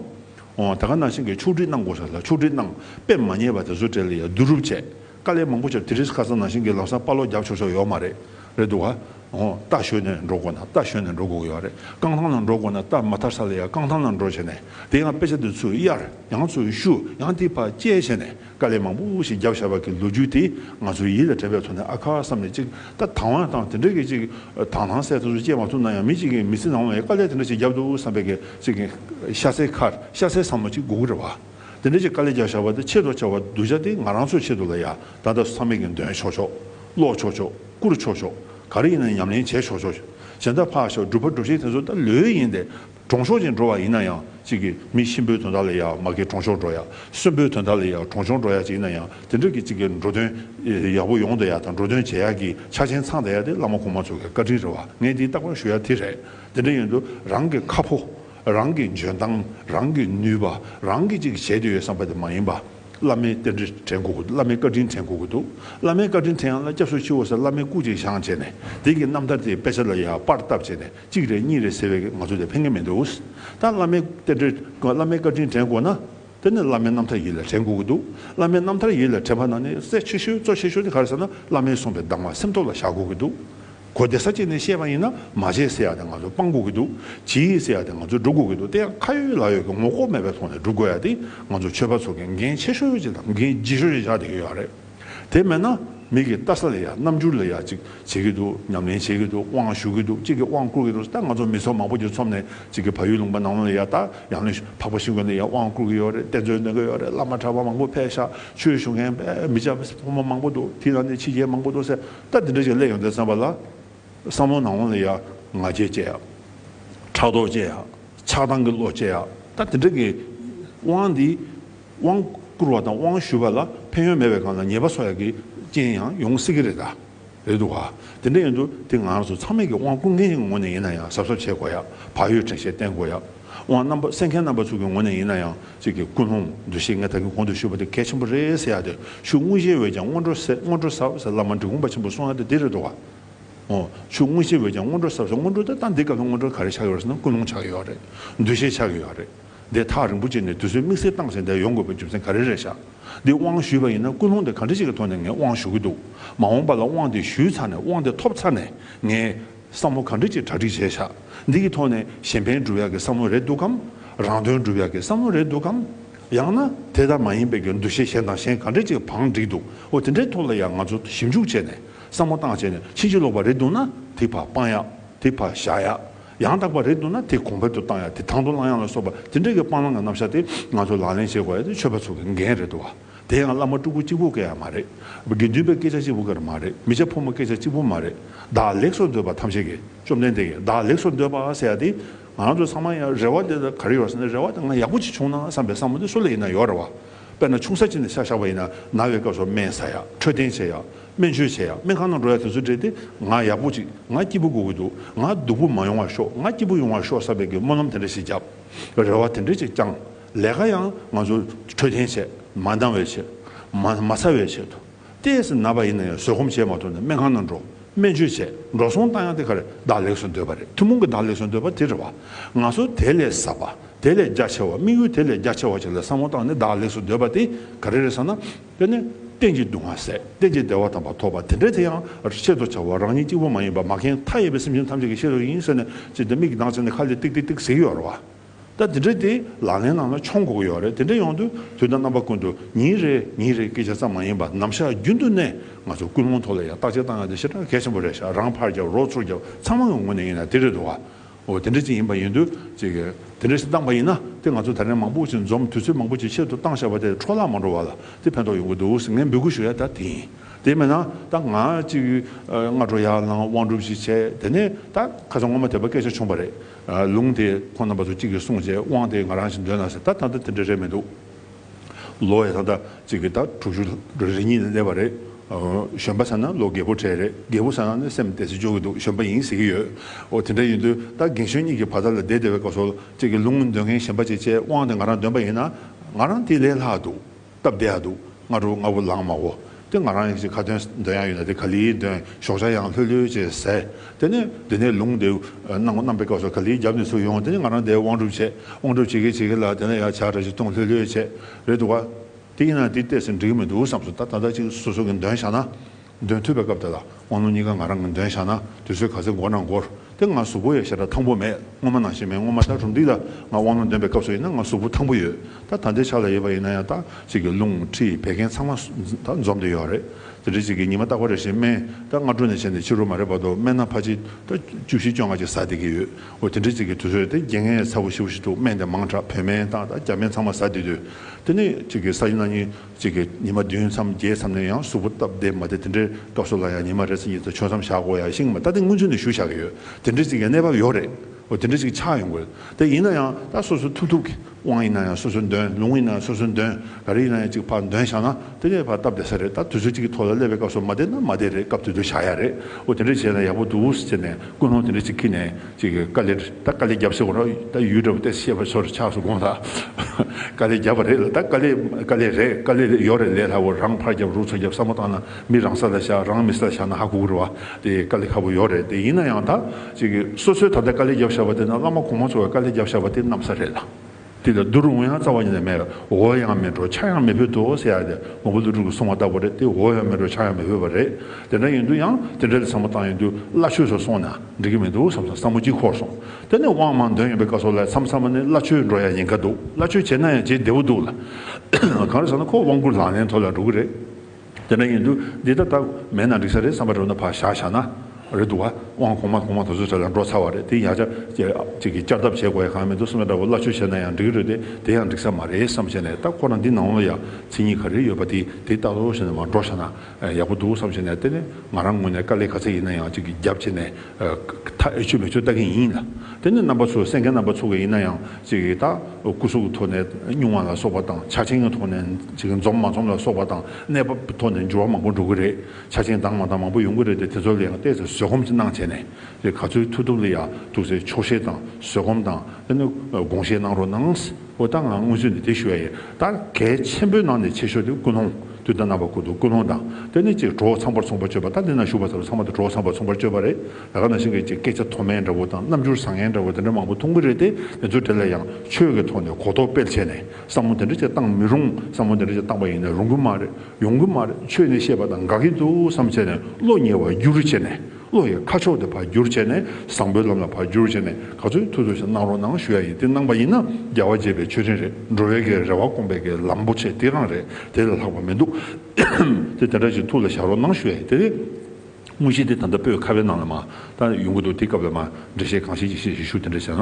ད་ག་ནང་བཞིན་གྱི་ཕྱོགས་བསྒྲིགས་གནང་དགོས་ས་ལ་ཕྱོགས་བསྒྲིགས་གནང་དཔེ་མ་རྙེད་པ་དེ་ཚོ་བྲལ་ཡག་བསྡུ་རུབ་བྱས་དཀའ་ལས་མང་པོ་བྱས་དེ་རིང་ཁ་སང་ནང་བཞིན་གྱི་ལག་སང་དཔའ་ལོག་རྒྱབ་ཆོག་ཆོག་ཡོག་མ་རེད་རེད་འདུག་ག་ཨོ་རྟ་བཞོས་ནས་འགྲོ་དགོས་ན་རྟ་བཞོས་ནས་འགྲོ་དགོས་ཡོག་རེད་རྐང་ཐང་ལ་འགྲོ་དགོས་ན་རྟ་མ་ཐར་ས་ལ་ཡང་རྐང་ཐང་ལ་འགྲོ་བྱས་ནས་དེ་ཡང་དཔེ་ཆ་དེ་ཚོས་གཡར་ཡང་ཚོས་བཤུ་ཡང་དེ་བར་དཔྱད་བྱས་ནས་དཀའ་ལས་མང་པོ་ཞིག་རྒྱབ་ཤར་བ་གི་ལོ་རྒྱུས་དེ་ང་ཚོའི་ཡིད་ལ་དྲན་པའི་ཐོག་ནས་ཨ་ཁ་བསམ་ནས་ཅིག་ད་དང་བ་དང་དེ་འདྲ་གི་ཅིག་དང་ལྷང་སེ་དེ་ཚོ་དཔྱད་མ་ཐུབ་ན་ཡང་མི་ཅིག་གི་མི་ཚེ་ནང་ལ་ཡང་དཀའ་ལས་དེ་འདྲ་ཞིག་རྒྱབ་འདུག་བསམ་པའི་གི་ཅིག་ཤ་ཚའི་ཁར་ཤ་ཚའི་བསམ་བློ་ཅིག་དགོས་ཀི་རེད་བ། དེ་འདྲ་ཅིག་དཀའ་ལས་རྒྱག་བཞག་པ་དེ་ཆེས་དྲོ་ཆེ་བ་གདུལ་བྱ་དེ་ང་རང་ཚོའི་ཆེད་དུ་ལ་ཡ་ད་ད་བསམ་མེད་ཀྱི་འདོན་ཆོག་ཆོག་ཀློག་ཆོག་ཆོག་བསྐུར་ཆོག་ཆོག་ག་རེ་ཡིན་ན་ཉམས་ལེན་བྱས་ཆོག་ཆོག་གཞན་དག་ཕག་ཞག་སྒྲུབ་ཕར་སྒྲུབ་བྱེད་དེ་ཚོ་ད་ལོས་ཡིན་ཏེ་གྲོང་ཤོག་ཅིག་འགྲོ་བ་ཡིན་ན་ཡང་ཅིག་གི་མི་གཤིན་པོའི་དོན་དག་ལ་ཡ་མ་གི་གྲོང་ཤོག་འགྲོ་ཡ་གསོན་པོའི་དོན་དག་ལ་ཡ་གྲོང་ཤོག་འགྲོ་ཡ་ཅིག་ཡིན་ན་ཡང་དེ་འདྲ་གི་ཅིག་གི་འགྲོ་དོན་ཡག་པོ་ཡོང་དུ་ཡ་དང་འགྲོ་དོན་བྱེད་ཡག་གི་ཆ་ཆེན་ཚང་དུ་ཡ་དེ་བླ་མ་གོང་མ་ཚོ་གི་བཀའ་དྲིན་རེད་བ་ངས་འདི་རྟག་པར་ཞུ་ཡ་དེ་རེད་དེ་འདྲ་ཡིན་དུ་རང་གི་ཁ་ཕོ། རང་གི་འཇོན་ཐང་རང་གི་ནུས་པ་རང་གིས་ཅིག་བྱེད་དུ་ཡོད་བསམ་པ་དེ་མ་ཡིན་པ། བླ་མའི་རྟེན་འབྲེལ་དྲན་དགོས་བཀུག་བླ་མའི་བཀའ་དྲིན་དྲན་དགོས་བཀུག་འདུག་བླ་མའི་བཀའ་དྲིན་དྲན་ཡང་ལ་སྐྱབས་སུ་མཆིའོ་ཟེར་བླ་མའི་སྐུ་གཅིག་བཞེངས་བྱས་ནས་དེང་གི་རྣམ་ཐར་དེའི་དཔེ་ཆ་ལ་ཡང་པར་བཏབ་བྱས་ནས་གཅིག་རེད་གཉིས་རེད་ཟེར་བའི་ང་ཚོ་དེ་ཕན་ངེས་མི་འདུག་ད་བླ་མའི་རྟེན་འབྲེལ་བླ་མའི་བཀའ་དྲིན་དྲན་དགོས་ན། དེ་ནི་བླ་མའི་རྣམ་ཐར་ཡིད་ལ་དྲན་དགོས་ཀྱི་འདུག་བླ་མའི་རྣམ་ཐར་ཡིད་ལ་དྲན་པ་ན་ནི་གསལ་ཆེ་ཤོས་གཙོ་ཆེ་ཤོས་དེ་ག་རེ་ཟེར་ན་བླ་མའི་གསུངས་པའི་གདམས་ངག་སེམས་ཐོག་ལ་བཞག་དགོས་ཀྱི་འདུག་གོ་བདེ་ས་གཅིག་ནས་བཤད་པ་ཡིན་ན་མ་བྱས་ཟེར་ཡག་དེ་ང་ཚོས་སྤང་དགོས་ཀྱི་འདུག་བྱེད་ཡིག་ཟེར་ཡག་དེ་ང་ཚོས་སྒྲུབ་དགོས་ཀྱི་འདུག་དེ་ཡང་ཁ་ཡོད་ལག་ཡོད་ཀྱི་ངོ་ལྐོག་མེད་པའི་ཐོག་ནས་སྒྲུབ་དགོས་ཡག་དེ་ང་ཚོ་ཆོས་པ་ཚོ་གི་འགན་ཆེ་ཤོས་ཅིག་དང་འགན་ལྗིད་ཤོས་ཅིག་ཆགས་བསྡད་ཡོད་ཡག་རེད། དེ་མེད་ན་མིག་གིས་བལྟ་ས་ལས་ཡག་རྣམ་འགྱུར་ལས་ཡག་ཅིག་བྱེད་ཀྱི་འདུག་ཉམས་ལེན་བྱེད་ཀྱི་འདུག་དབང་ཞུ་གི་འདུག་ཅིག་གིས་དབང་བསྐུར་གྱི་འདུག་ད་ང་ཚོ་མི་ཚོགས་མང་པོ་འདིར་འཚོམས་ནས་ཅིག་གིས་ཕ་ཡུལ་ལུང་པ་ནང་ལོ་ལས་ཡག་ད་ཡང་ལེ་འཕགས་པ་ཤིང་དགོན་ནས་ཡང་དབང་བསྐུར་གྱི་ཡོད་རེད་གཏེར་མཛོད་འདོན་གྱི་ཡོད་རེད་བླ་མ་གྲྭ་པ་མང་པོ་ཕལ་ཤ་ཆོས་ཞུ་མཁན་མི་ཇག་ཕོ་མོ་མང་པོ་འདུག་དེའི་ནང་ནས་ཕྱི་རྒྱལ་མང་པོ་འདུག་ཟེར་ད་འདི་འདྲ་ཞིག་གླས་ཡོང་སྟེ་བསམ་པ་ལ་བསམ་ལོ་ནང་ལོ་ལས་ཡག་ང་རྒྱལ་བསྐྱེད་ཡག་ཕྲག་དོག་བསྐྱེད་ཡག་ཆགས་སྡང་གི་བློ་བསྐྱེད་ཡག་ད་འདི་འདྲ་གི་དབང་འདི་དབང་བསྐུར་བ་དང་དབང་ཞུ་བ་ལ་ཕན་ཡོན་མེད་པའི་སྒང་ལ་ཉེས་པ་སོགས་ཡག་གི་རྐྱེན་ཡང་ཡོང་སྲིད་ཀྱི་རེད་གདའ། རེད་འདུག་ག། དེ་འདྲ་ཡིན་དུས་དེ་ང་ཚོ་ཚང་མས་ཀྱི་དབང་བསྐུར་མཁན་གྱི་ངོ་ནས་ཡིན་ན་ཡང་གཟབ་གཟབ་བྱེད་དགོས་ཡ། བག་ཡོད་དྲན་ཤེས་བརྟེན་དགོས་ཡ། དབང་རྣམ་པ་གསན་མཁན་རྣམ་པ་ཚོ་གྱི་ངོ་ནས་ཡིན་ན་ཡང་ཅིག་གི་ཀུན་སློང་འདུ་ཤེས་ངེས་ད་གི་གོང་དུ་ཞུས་པ་དེ་གལ་ཆེན་པོ་རེད་ཟེར་ཡ་དེ་ཤུགས་དངོས་གཞིའི་འོད་ཀྱང་སྔོན་འགྲོ་ཟེར་སྔོན་འགྲོ་ཟབ་ཟེར་བླ་མ་འབྲི་གུང་པ་ཆེན་པོ་གསུང་ཡ་དེ་དེ་རེད་འདུག་ག། ཨོ། ཤུགས་དངོས་གཞིའི་འོད་ཀྱང་སྔོན་འགྲོ་ཟབ་ཟེར་སྔོན་འགྲོ་དེ་ལྟ་འདི་སྐབས་ལ་སྔོན་འགྲོ་ག་རེ་ཆགས་ཡོད་རེད་ཟེར་ན་ཀུན་སློང་ཆགས་ཡོད་རེད་འདུ་ཤེས་ཆགས་ཡོད་རེད། འདས་ཐག་རིང་པོ་བཅད་ནས་དུས་ཚོད་དམིགས་བསལ་བཏང་ཟིན་དེར་ཡོང་དགོས་པའི་རྒྱུ་མཚན་ག་རེ་རེད་བཞག་འདི་དབང་ཞུས་པ་ཡིན་ན་ཀུན་སློང་དེ་ག་འདྲ་ཞིག་གི་ཐོག་ནས་ངས་དབང་ཞུ་གི་འདུག་མ་འོངས་པ་ལ་དབང་དེ་ཞུས་ཚར་ནས་དབང་དེ་ཐོབ་ཚར་ནས་ངས་བསམ་བློ་ག་འདྲ་ཅིག་གྲ་སྒྲིག་བྱས་བཞག་འདི་གི་ཐོག་ནས་གཞན་ཕན་སྒྲུབ་ཡག་གི་བསམ་བློ་རེད་འདུག་གམ་རང་དོན་སྒྲུབ་ཡག་གི་བསམ་བློ་རེད་འདུག་གམ་ཡང་ན་དེ་ལྟར་མ་ཡིན་པའི་གི་འདུ་ཤེས་གཞན་དང་གཞན་ག་འདྲ་ཅིག་བང་བསྒྲིགས་འདུག་འོ་དེ་འདྲའི་ཐོག་ལ་ཡང་ང་ཚོ་ཞིབ་འཇུག་བྱས་ནས་བསམ་བློ་བཏང་བྱས་ནས་ཕྱིན་ཅི་ལོག་པ་རེད་འདུག་ན་དེ་བར་སྤང་ཡག་དེ་བར་བཞག་ཡག། ཡང་དག་པ་རེད་འདུག་ན་དེ་གོང་འཕེལ་དུ་བཏང་ཡ་དེ་དང་དུ་བླང་ཡ་ལ་སོགས་པ་དེ་འདྲ་གི་སྤང་བླང་གི་རྣམ་གཞག་དེ་ང་ཚོས་ལག་ལེན་བྱེད་དགོས་ཡ་དེ་ཆོས་པ་ཚོ་གི་འགན་རེད་འདུག་བ། དེ་ཡང་བླ་མ་སྤྲུལ་སྐུ་གཅིག་པོ་སྐད་ཡ་མ་རེད། དགེ་འདུན་པའི་སྐད་ཆ་གཅིག་པོ་ཀེར་མ་རེད་མི་བྱ་ཕོ་མོ་སྐད་ཆ་གཅིག་པོ་མ་རེད། བདག་ལེགས་སོ་འདོད་པ་ཐམས་ཅད་ཀྱི་བཅོམ་ལྡན་འདས་ཀྱིས་བདག་ལེགས་སོ་འདོད་པ་ཟེར་ཡ་དེ་ང་རང་ཚོའི་ཚང་མ་ཡ་རེ་བ་དེ་ག་རེ་ཡོད་ཟེར་ན་རེ་བ་དེ་ང་ཡག་པོ་གཅིག་བྱུང་ན་བསམ་པའི་བསམ་བློ་དེ་སུ་ལ་ཡིན་ན་ཡོད་རེ་བ། དཔེར་ན་ཆུང་ས་གཅིག་ནས་ཤ་བཞག་པ་ཡིན་ན་ན་བའི་སྐབས་སུ་སྨན་ཟ་ཡ་འཕྲོད་བསྟེན་བྱེད་ཡ། སྨན་བཅོས་བྱས་ཡང་སྨན་ཁང་ནང་འགྲོ་ཡ་དེ་ཚོ་བྲེལ་ཏེ་ང་ཡག་པོ་ཅིག་ང་སྐྱིད་པོ་དགོས་ཀྱི་འདུག་ང་སྡུག་པོ་མ་ཡོང་བར་ཤོག་ང་སྐྱིད་པོ་ཡོང་བར་ཤོག་ས་བེད་ཀྱི་སྨོན་ལམ་དེ་འདྲ་ཞིག་བརྒྱབ། རེ་བ་དེ་འདྲ་ཅིག་བཅངས། ལས་ཀ་ཡང་ང་ཚོ་འཕྲོད་བསྟེན་ཆེད་མ་འདང་བའི་ཆེད་མ་མ་ཚར་བའི་ཆེད་དུ། ལྟས་ཟིན་ན་པ་ཡིན་ན་ཡང་བཟོད་སྒོམ་བྱས་མ་ཐུབ་ན་སྨན་ཁང་ནང་འགྲོ་སྨན་བཅོས་བྱས་འགྲོ་སོང་བཏང་ཡང་དེ་ག་རེ་བདག་ལེགས་སུ་འདོད་པ་རེད་ཐུན་མོང་གི་བདག་ལེགས་སུ་འདོད་པ་དེ་རེད་བ། ང་ཚོ་དེ་ལས་ཟབ་པ་དེ་ལས་རྒྱ་ཆེ་བ་དམིགས་ཡུལ་དེ་ལས་རྒྱ་ཆེ་བ་ཅིག་ལ་བསམ་བློ་བཏང་ནས་བདག་ལེགས་སུ་འདོད་པ་དེ་ག་རེ་རེད་ཟེར་ན། དེ་ནི་རྟེན་ཅིང་འདུ་བ་ཟད་རྟེན་ཅིང་བདེ་བ་དམ་པ་ཐོབ་པ་དེ་འདྲའི་དེ་ཡང་ཆེད་དུ་བྱ་བ་རང་ཉིད་གཅིག་པུ་མ་ཡིན་པར་མ་མཁན་མཐའ་ཡས་པའི་སེམས་ཅན་ཐམས་ཅད་ཀྱི་ཤེས་རབ་ཡིན་ཟེར་ནས་ཅི་སྟེ་མིག་གི་མདངས་ཆད་ནས་ཁ་ལས་ཏིག་ཏིག་ཏིག་ཟེར་ཡོད་རེད་བ། ད་དེ་འདྲའི་དེ་ལག་ལེན་ནང་ལ་འཆོང་དགོས་ཀྱི་ཡོད་རེད་དེ་འདྲའི་ཡོང་དུས་དུས་དང་རྣམ་པ་ཀུན་ཏུ་ཉིན་རེ་ཉིན་རེ་སྐད་ཆ་ཙམ་མ་ཡིན་པར་ནམ་ཞག་རྒྱུན་དུ་ནས་ང་ཚོ་ཀུན་སློང་ཐོག་ལ་ཡང་བརྟག་དཔྱད་བཏང་ཡོང་དུས་ཞེ་དྲག་གལ་ཆེན་པོ་རེད་ཞག་རང་ཕར་རྒྱབ་རོགས་ཚུར་རྒྱབ་ཚང་མ་གི་ངོས་ནས་ཡིན་ན་དེ་རེད་འདུག་བ། འོ་དེ་འདྲ་ཅིག་ཡིན་པ་ཡིན་དུས། དེ་འདྲ་ཞིག་བཏང་བ་ཡིན་ན་དེ་ང་ཚོ་དར་ནས་མང་པོ་ཞིག་འཛོམས་དུས་ཚོད་མང་པོ་ཞིག་ཆེད་དུ་བཏང་བཞག་པ་དེ་འཕྲོ་བརླག་མ་འགྲོ་བ་ལ་དེ་ཕན་ཐོགས་ཡོང་གི་འདུག་ཟེར་ངས་འབོད་སྐུལ་ཞུ་ཡ་ད་དེ་ཡིན། དེ་མེད་ན་ད་ང་གཅིག་སྔ་དྲོ་ཡར་ལངས་དབང་སྒྲུབ་ཞིག་བྱས་དེ་ནས་ད་ཁ་སང་ངོ་མ་དེ་པ་སྐད་ཆ་བྱུང་བ་རེད། ལུང་དེ་ཁོང་རྣམ་པ་ཚོ་གཅིག་གིས་གསུངས་རྗེས་དབང་དེ་ང་རང་ཞིག་འདོན་ན་ཟེར་ད་ད་ལྟ་དེ་འདྲ་རེད་མི་འདུག། ལོ་ཡི་ཐོག་ཐག་ཅིག་གིས་ད་དྲུག་ཅུ་རེ་གཉིས་ལ་སླེབས་པ་རེད། གཞོན་པ་ཟེར་ན་ལོ་རྒས་པོ་གྲས་རེད་རྒས་པོ་ཟེར་ན་ནི་སེམས་བདེ་ཚེ་སྐྱོ་གི་འདུག་གཞོན་པ་ཡིན་ཟེར་གྱི་ཡོད། འོ་དེ་འདྲ་ཡིན་དུས་ད་རྒན་གཞོན་གཉིས་ཀྱི་བར་ཐག་ལ་བསྡད་བསྡད་པའི་སྐབས་སོ་ཅིག་གིས་ལུང་འདོན་མཁན་གཞན་པ་ཅིག་བཅས་དབང་དེ་ང་རང་འདོན་པ་ཡིན་ན། ང་རང་དེ་ལས་ལྷག་འདུག་སྟབས་བདེ་ཡག་འདུག་ང་དྲུག་ལྔ་བོ་ལངས་མ་འོ། དེ་ང་རང་ཡིན་ཞེས་ཁ་ཏོན་འདོན་ཡང་ཡོད་ན་དེ་ག་ལིའི་འདོན་ཞོག་ཆ་ཡང་ལྷོད་ལྷོད་ཅེས་ཟེར། དེ་ནས་དེ་ནས་ལུང་དེ་གནང་གནང་པའི་སྐབས་སུ་ག་ལིའི་རྒྱབ་ནས་ཚུར་ཡོང་དེ་ནས་ང་རང་དེའི་དབང་སྒྲུབ་བྱས་དབང་སྒྲུབ་བྱེད་ཀྱི་བྱེད་ཀྱི་ལ་དེ་ནས་ཡང་བྱ་གྲ་ཞིག་བཏུང་ལྷོད་ལྷོད་བྱས། རེད་འདུག་ག། དེ་ཡིན་ན་དེ་བལྟས་ཟིན་འགྲིག་གི་མི་འདུག་བསམས་སོ་ད་ད་ལྟ་ཅིག་སོ་སོ་གིས་འདོན་བཞག་ན། འདོན་ཐུབ་པའི་སྐབས་དེ་ལ། དབང་ལུང་གཉིས་ཀ་ང་རང་གིས་འདོན་བཞག་ན་དུས་ཚོད་ག་ཚོད་འགོར་ན་འགོར་དེ་ང་གཟུགས་པོ་ཡོད་ཞེ་དྲག་ཐང་པོ་མེད་སྔོན་མ་ནང་བཞིན་མེད་སྔོན་མ་ད་རུང་འདུག་ད་ང་དབང་ལུང་འདོན་པའི་སྐབས་སུ་ཡིན་ན་ང་གཟུགས་པོ་ཐང་པོ་ཡོད་ད་ད་ལྟའི་ཆ་ལ་ཡོད་པ་ཡིན་ན་ཡང་དག་ཅིག་གི་ལུང་ཁྲིད་བད་ཀན་ཚང་མ་ད་འཛོམས་ཏེ་ཡོད་རེད་དེ་འདྲ་ཅིག་གི་ཉི་མ་རྟག་པ་རེ་བཞིན་སྨན་ད་སྔ་དྲོ་ནས་བྱས་ནས་ཕྱི་རོལ་མ་རེད་བར་དུ་སྨན་ན་ཕ་ཅིག་ད་བཅུ་བཞི་བཅོ་ལྔ་ཅིག་ཟ་བསྡད་ཀྱི་ཡོད་འོ་དེ་འདྲ་ཅིག་གི་དུས་ཚོད་དེ་རྒྱན་ངའི་ཚ་བོ་ཤི་བོ་ཞིག་འདུག་སྨན་དེ་མང་དྲག་བོད་སྨན་དང་ད་རྒྱ་སྨན་ཚང་མ་ཟ་བསྡད་དུས་དེ་ནས་ཅིག་གི་ཟ་ཡིན་ན་ཉིན་གཅིག་གིས་ཉི་མ་བདུན་མཚམས་བརྒྱད་མཚམས་ནས་ཡང་གཟུགས་པོ་སྟབས་བདེ་མ་དེ་དེ་འདྲའི་སྐབས་སུ་ལ་ཡང་ཉི་མ་རེ་ཚེ་གཉིས་ཚེ་ཆོད་མཚམས་བཞག་དགོས་ཡ་ཤིང་མ་ད་དེ་སྔོན་ཚུད་ནས་ཞུ་བཞག་གི་ཡོད་དེ་འདྲའི་གཅིག་ཡ་གནས་བབ་ཡོད་རེད་འོ་དེ་འདྲའི་གཅིག་ཆགས་ཡོང་དགོས་དེ་ཡིན་ན་ཡང་ད་སོ་སོའི་ཐུབ་ཐུབ་གི་དབང་ཡིན་ན་ཡང་སོ་སོའི་འདོན་ལུང་ཡིན་ན་ཡང་སོ་སོའི་འདོན་ག་རེ་ཡིན་ན་ཡང་གཅིག་ཕར་འདོན་བཞག་ན་དེ་ངའི་ཕར་སྟབས་བདེ་ས་རེད་ད་དུས་ཚོད་གཅིག་གི་ཐོག་ལ་སླེབས་པའི་སྐབས་སུ་མ་དེ་ན་མ་དེ་རེད་སྐབས་དེ་དུས་བཞག་ཡ་རེད་འོ་དེ་འདྲ་བྱས་ན་ཡག་པོ་འདུག་ཟེར་ནས་ཀུན་སློང་དེ་འདྲ་གཅིག་ཁིད་ནས། ཅིག་གིས་དཀའ་ལས། ད་དཀའ་ལས་བརྒྱབ་ཟེར་བ་རོ། ད་ཡུལ་གྲབས་ཏེ་ཤེས་པ་ཚོར་ཆགས་སུ་དགོངས་ལ། དཀའ་ལས་བརྒྱབ་པ་རེད་ལ་ད་དཀའ་ལས། དཀའ་ལས་རེད་དཀའ་ལས་ཡོད་རེད་ལས་སླ་བོ་རང་ཕར་བརྒྱབ་རུ་ཚོ་བརྒྱབ་བསམ་བློ་བཏང་ན་མི་རང་ས་ལ་བཞག་རང་མི་ས་ལ་བཞག་ན་ཧ་གོ་གི་རེད་བ། དེ་དཀའ་ལས་ཁ་བོ་ཡོད་རེད་དེ་ཡིན་ན་ཡང་ད། ཅིག་གིས་སོ་སོས་ད་ལྟ་དཀའ་ལས་བརྒྱབ་བཞག་པ་དེ་ན་བླ་མ་གོང་མ་ཚོ་བས་དཀའ་ལས་བརྒྱབ་བཞག་པ་དེ་གནམ་ས་རེད་ལ། དེ་ལ་རྡོ་རུ་ངོ་ཡང་རྩ་བ་ཉིད་ལས་མེད་ལ་འོ་ཡང་མེད་འགྲོ་ཆགས་ཡང་མི་ཕོད་དོ་ཟེར་ཡ་དེ་ངོ་བོ་ལུས་དྲུག་གི་བསྲུང་བ་ལྟ་བུ་རེད་དེ་འོ་ཡང་མེད་འགྲོ་ཆགས་ཡང་མི་ཕོད་པ་རེད་དེ་འདྲ་ཡིན་དུས་ཡང་དེ་འདྲ་ལས་བཟང་པོ་བཏང་ཡིན་དུས་བླ་ཆོས་སུ་སོང་ན་འགྲིག་གི་མི་འདུག་བསམ་སོང་བསམ་བོ་གཅིག་འཁོར་སོང་དེ་ནས་དབང་མང་འདོན་ཡོང་པའི་བཀའ་སོགས་ལས་མཚམས་བསམ་པ་ནི་བླ་ཆོས་འགྲོ་ཡ་ཡིན་ག་འདུག་བླ་ཆོས་བྱེད་ན་ཡང་བྱེད་བདེ་བོ་འདུག་ལ། གང་རེད་ཟེར་ན་ཁོ་དབང་བསྐུར་ལག་ལེན་ཐོག་ལ་འགྲོ་གི་རེད། དེ་འདྲ་ཡིན་དུས་འདི་ལྟར་སྟབས་མེད་ན་འགྲིག་ས་རེད་བསམ་པ་རེད་ན་བག་ཞག་བཞག་ན་རེད་འདུག་བ། དབང་གོང་མ་གོང་མ་དེ་ཚོ་ཚོད་ལ་འགྲོ་ཚར་བ་རེད་དེ་ཡང་བསྐྱར་ཅིག་གིས་བསྐྱར་ལྡབ་བྱེད་དགོས་ཡ་གང་མི་འདུག་སེམས་པ་འདྲ་བོ་སླ་ཆོས་བྱས་ན་ཡང་འགྲིག་རེད་དེ་དེ་ཡང་འགྲིག་ས་མ་རེད་བསམ་བྱས་ནས་ད་ཁོ་རང་འདི་ནང་ལོ་ཡ་ཚིག་གཉིས་ག་རེ་ཡོད་པ་དེ་དེ་ལྟ་བུ་བྱས་ནས་མ་འགྲོ་ཤ་ན་ཡག་པོ་འདུག་བསམ་བྱས་ནས་དེ་ནས་ང་རང་ངོས་ནས་དཀའ་ལས་ག་ཚད་ཡིན་ན་ཡང་ཅིག་གིས་རྒྱབ་བྱས་ནས་ད་ཨེ་ཆོས་མེ་ཆོས་ལྟ་མཁན་ཡིན་ལ། དེ་ནི་རྣམ་པ་ཚོས་སེམས་ཁའི་རྣམ་པ་ཚོར་བ་ཡིན་ན་ཡང་ཅིག་ད་སྐུ་གཟུགས་ཀྱི་ཐོག་ནས་བསྙུང་བ་ལ་སོགས་པ་དང་ཆ་ཆེན་གྱི་ཐོག་ནས་ཅིག་འཛོམས་མ་འཛོམས་ལ་སོགས་པ་དང་གནས་བབ་ཀྱི་ཐོག་ནས་འགྱུར་བ་མང་པོ་འགྲོ་གི་རེད་ཆ་ཆེན་དྭངས་མ་དང་མང་པོ་ཡོང་གི་རེད་དེ་དེ་ཚོ་ལ་ཡང་བལྟས་ཚེ་བཟོད་སྒོམ་གྱི་གནང་བྱས་ནས་ཅིག་ག་ཚོད་ཐུབ་ཐུབ་ལ་ཡ་ཐུབ་ཚེ་ཆོག་ཤེས་དང་བཟོད་སྒོམ་དང་དེ་ནི་དགོངས་བཞེས་གནང་རོགས་གནང། འོ་ད་ང་སྔོན་ཚུད་ནས་དེ་ཞུ་ཡ་ཡིན་ད་གལ་ཆེན་པོའི་ནང་ནས་ཆེ་ཤོས་དེ་ཀུན་སློང་དུས་ད་ནང་པ་ཀུ་དོ་ཀུན་སློང་དང་དེ་ནས་ཅིག་གྲོགས་ཚངས་པར་ཚོང་པ་སྤྱོད་པ་ད་འདི་ན་བཞུགས་པ་ཚོ་ཚང་མ་དེ་གྲོགས་ཚངས་པར་ཚོང་པར་སྤྱོད་པ་རེད་ད་ག་ན་ཞིག་གི་ཅིག་སྐད་ཆ་མཐོ་དམན་འདྲ་བོ་དང་རྣམ་འགྱུར་བཟང་ངན་འདྲ་བོ་དེ་འདྲ་མང་པོ་མཐོང་གི་རེད་དེ་དེ་ཚོ་དེ་ལ་ཡང་ཆོས་ཀྱི་ཐོག་ནས་གོ་རྟོགས་སྤེལ་བྱས་ནས་བསམ་བློ་དེ་འདྲ་ཅིག་བཏང་མི་རུང་བསམ་བློ་དེ་འདྲ་ཅིག་བཏང་པ་ཡིན་ན་རུང་གི་མ་རེད་ཡོང་གི་མ་རེད་ཆོས་ནི་ཤེས་པ་དང་དགའ་གི་འདུག་བསམ་བྱས་ནས་བློ་ཉེ་བར་རྒྱུགས་རུ་བྱས་ནས། བློ་ཡི་ཁ་ཕྱོགས་དེ་བར་བསྒྱུར་བྱས་ནས་བཟང་པོའི་ལམ་ལ་བར་བསྒྱུར་བྱས་ནས་ག་ཚོད་ཐུབ་ཐུབ་ཞིག་གནང་རོགས་གནང་ཞུ་ཡ་ཡིན་དེ་གནང་པ་ཡིན་ན་རྒྱལ་བ་དགྱེས་པའི་མཆོད་སྤྲིན་རེད་འགྲོ་བའི་གའི་རེ་བ་སྐོང་པའི་གའི་ལམ་པོ་ཆེ་དེ་རང་རེད་དེ་ལས་ལྷག་པ་མི་འདུག་དེ་དེ་འདྲ་ཞིག་ཐུགས་ལ་བཞག་རོགས་གནང་ཞུ་ཡ་ཡིན་དེ་རེད། དངོས་གཞི་དེ་ད་ལྟ་པོའི་ཁ་བའི་ནང་ལ་མ་ད་ཡོང་གི་འདུག་དེ་སྐབས་ལ་མ་འགྲེལ་བཤད་གང་ཤེས་ཀྱི་བཤད་ཞིག་ཞུ་དེ་འདྲ་བྱས་ན།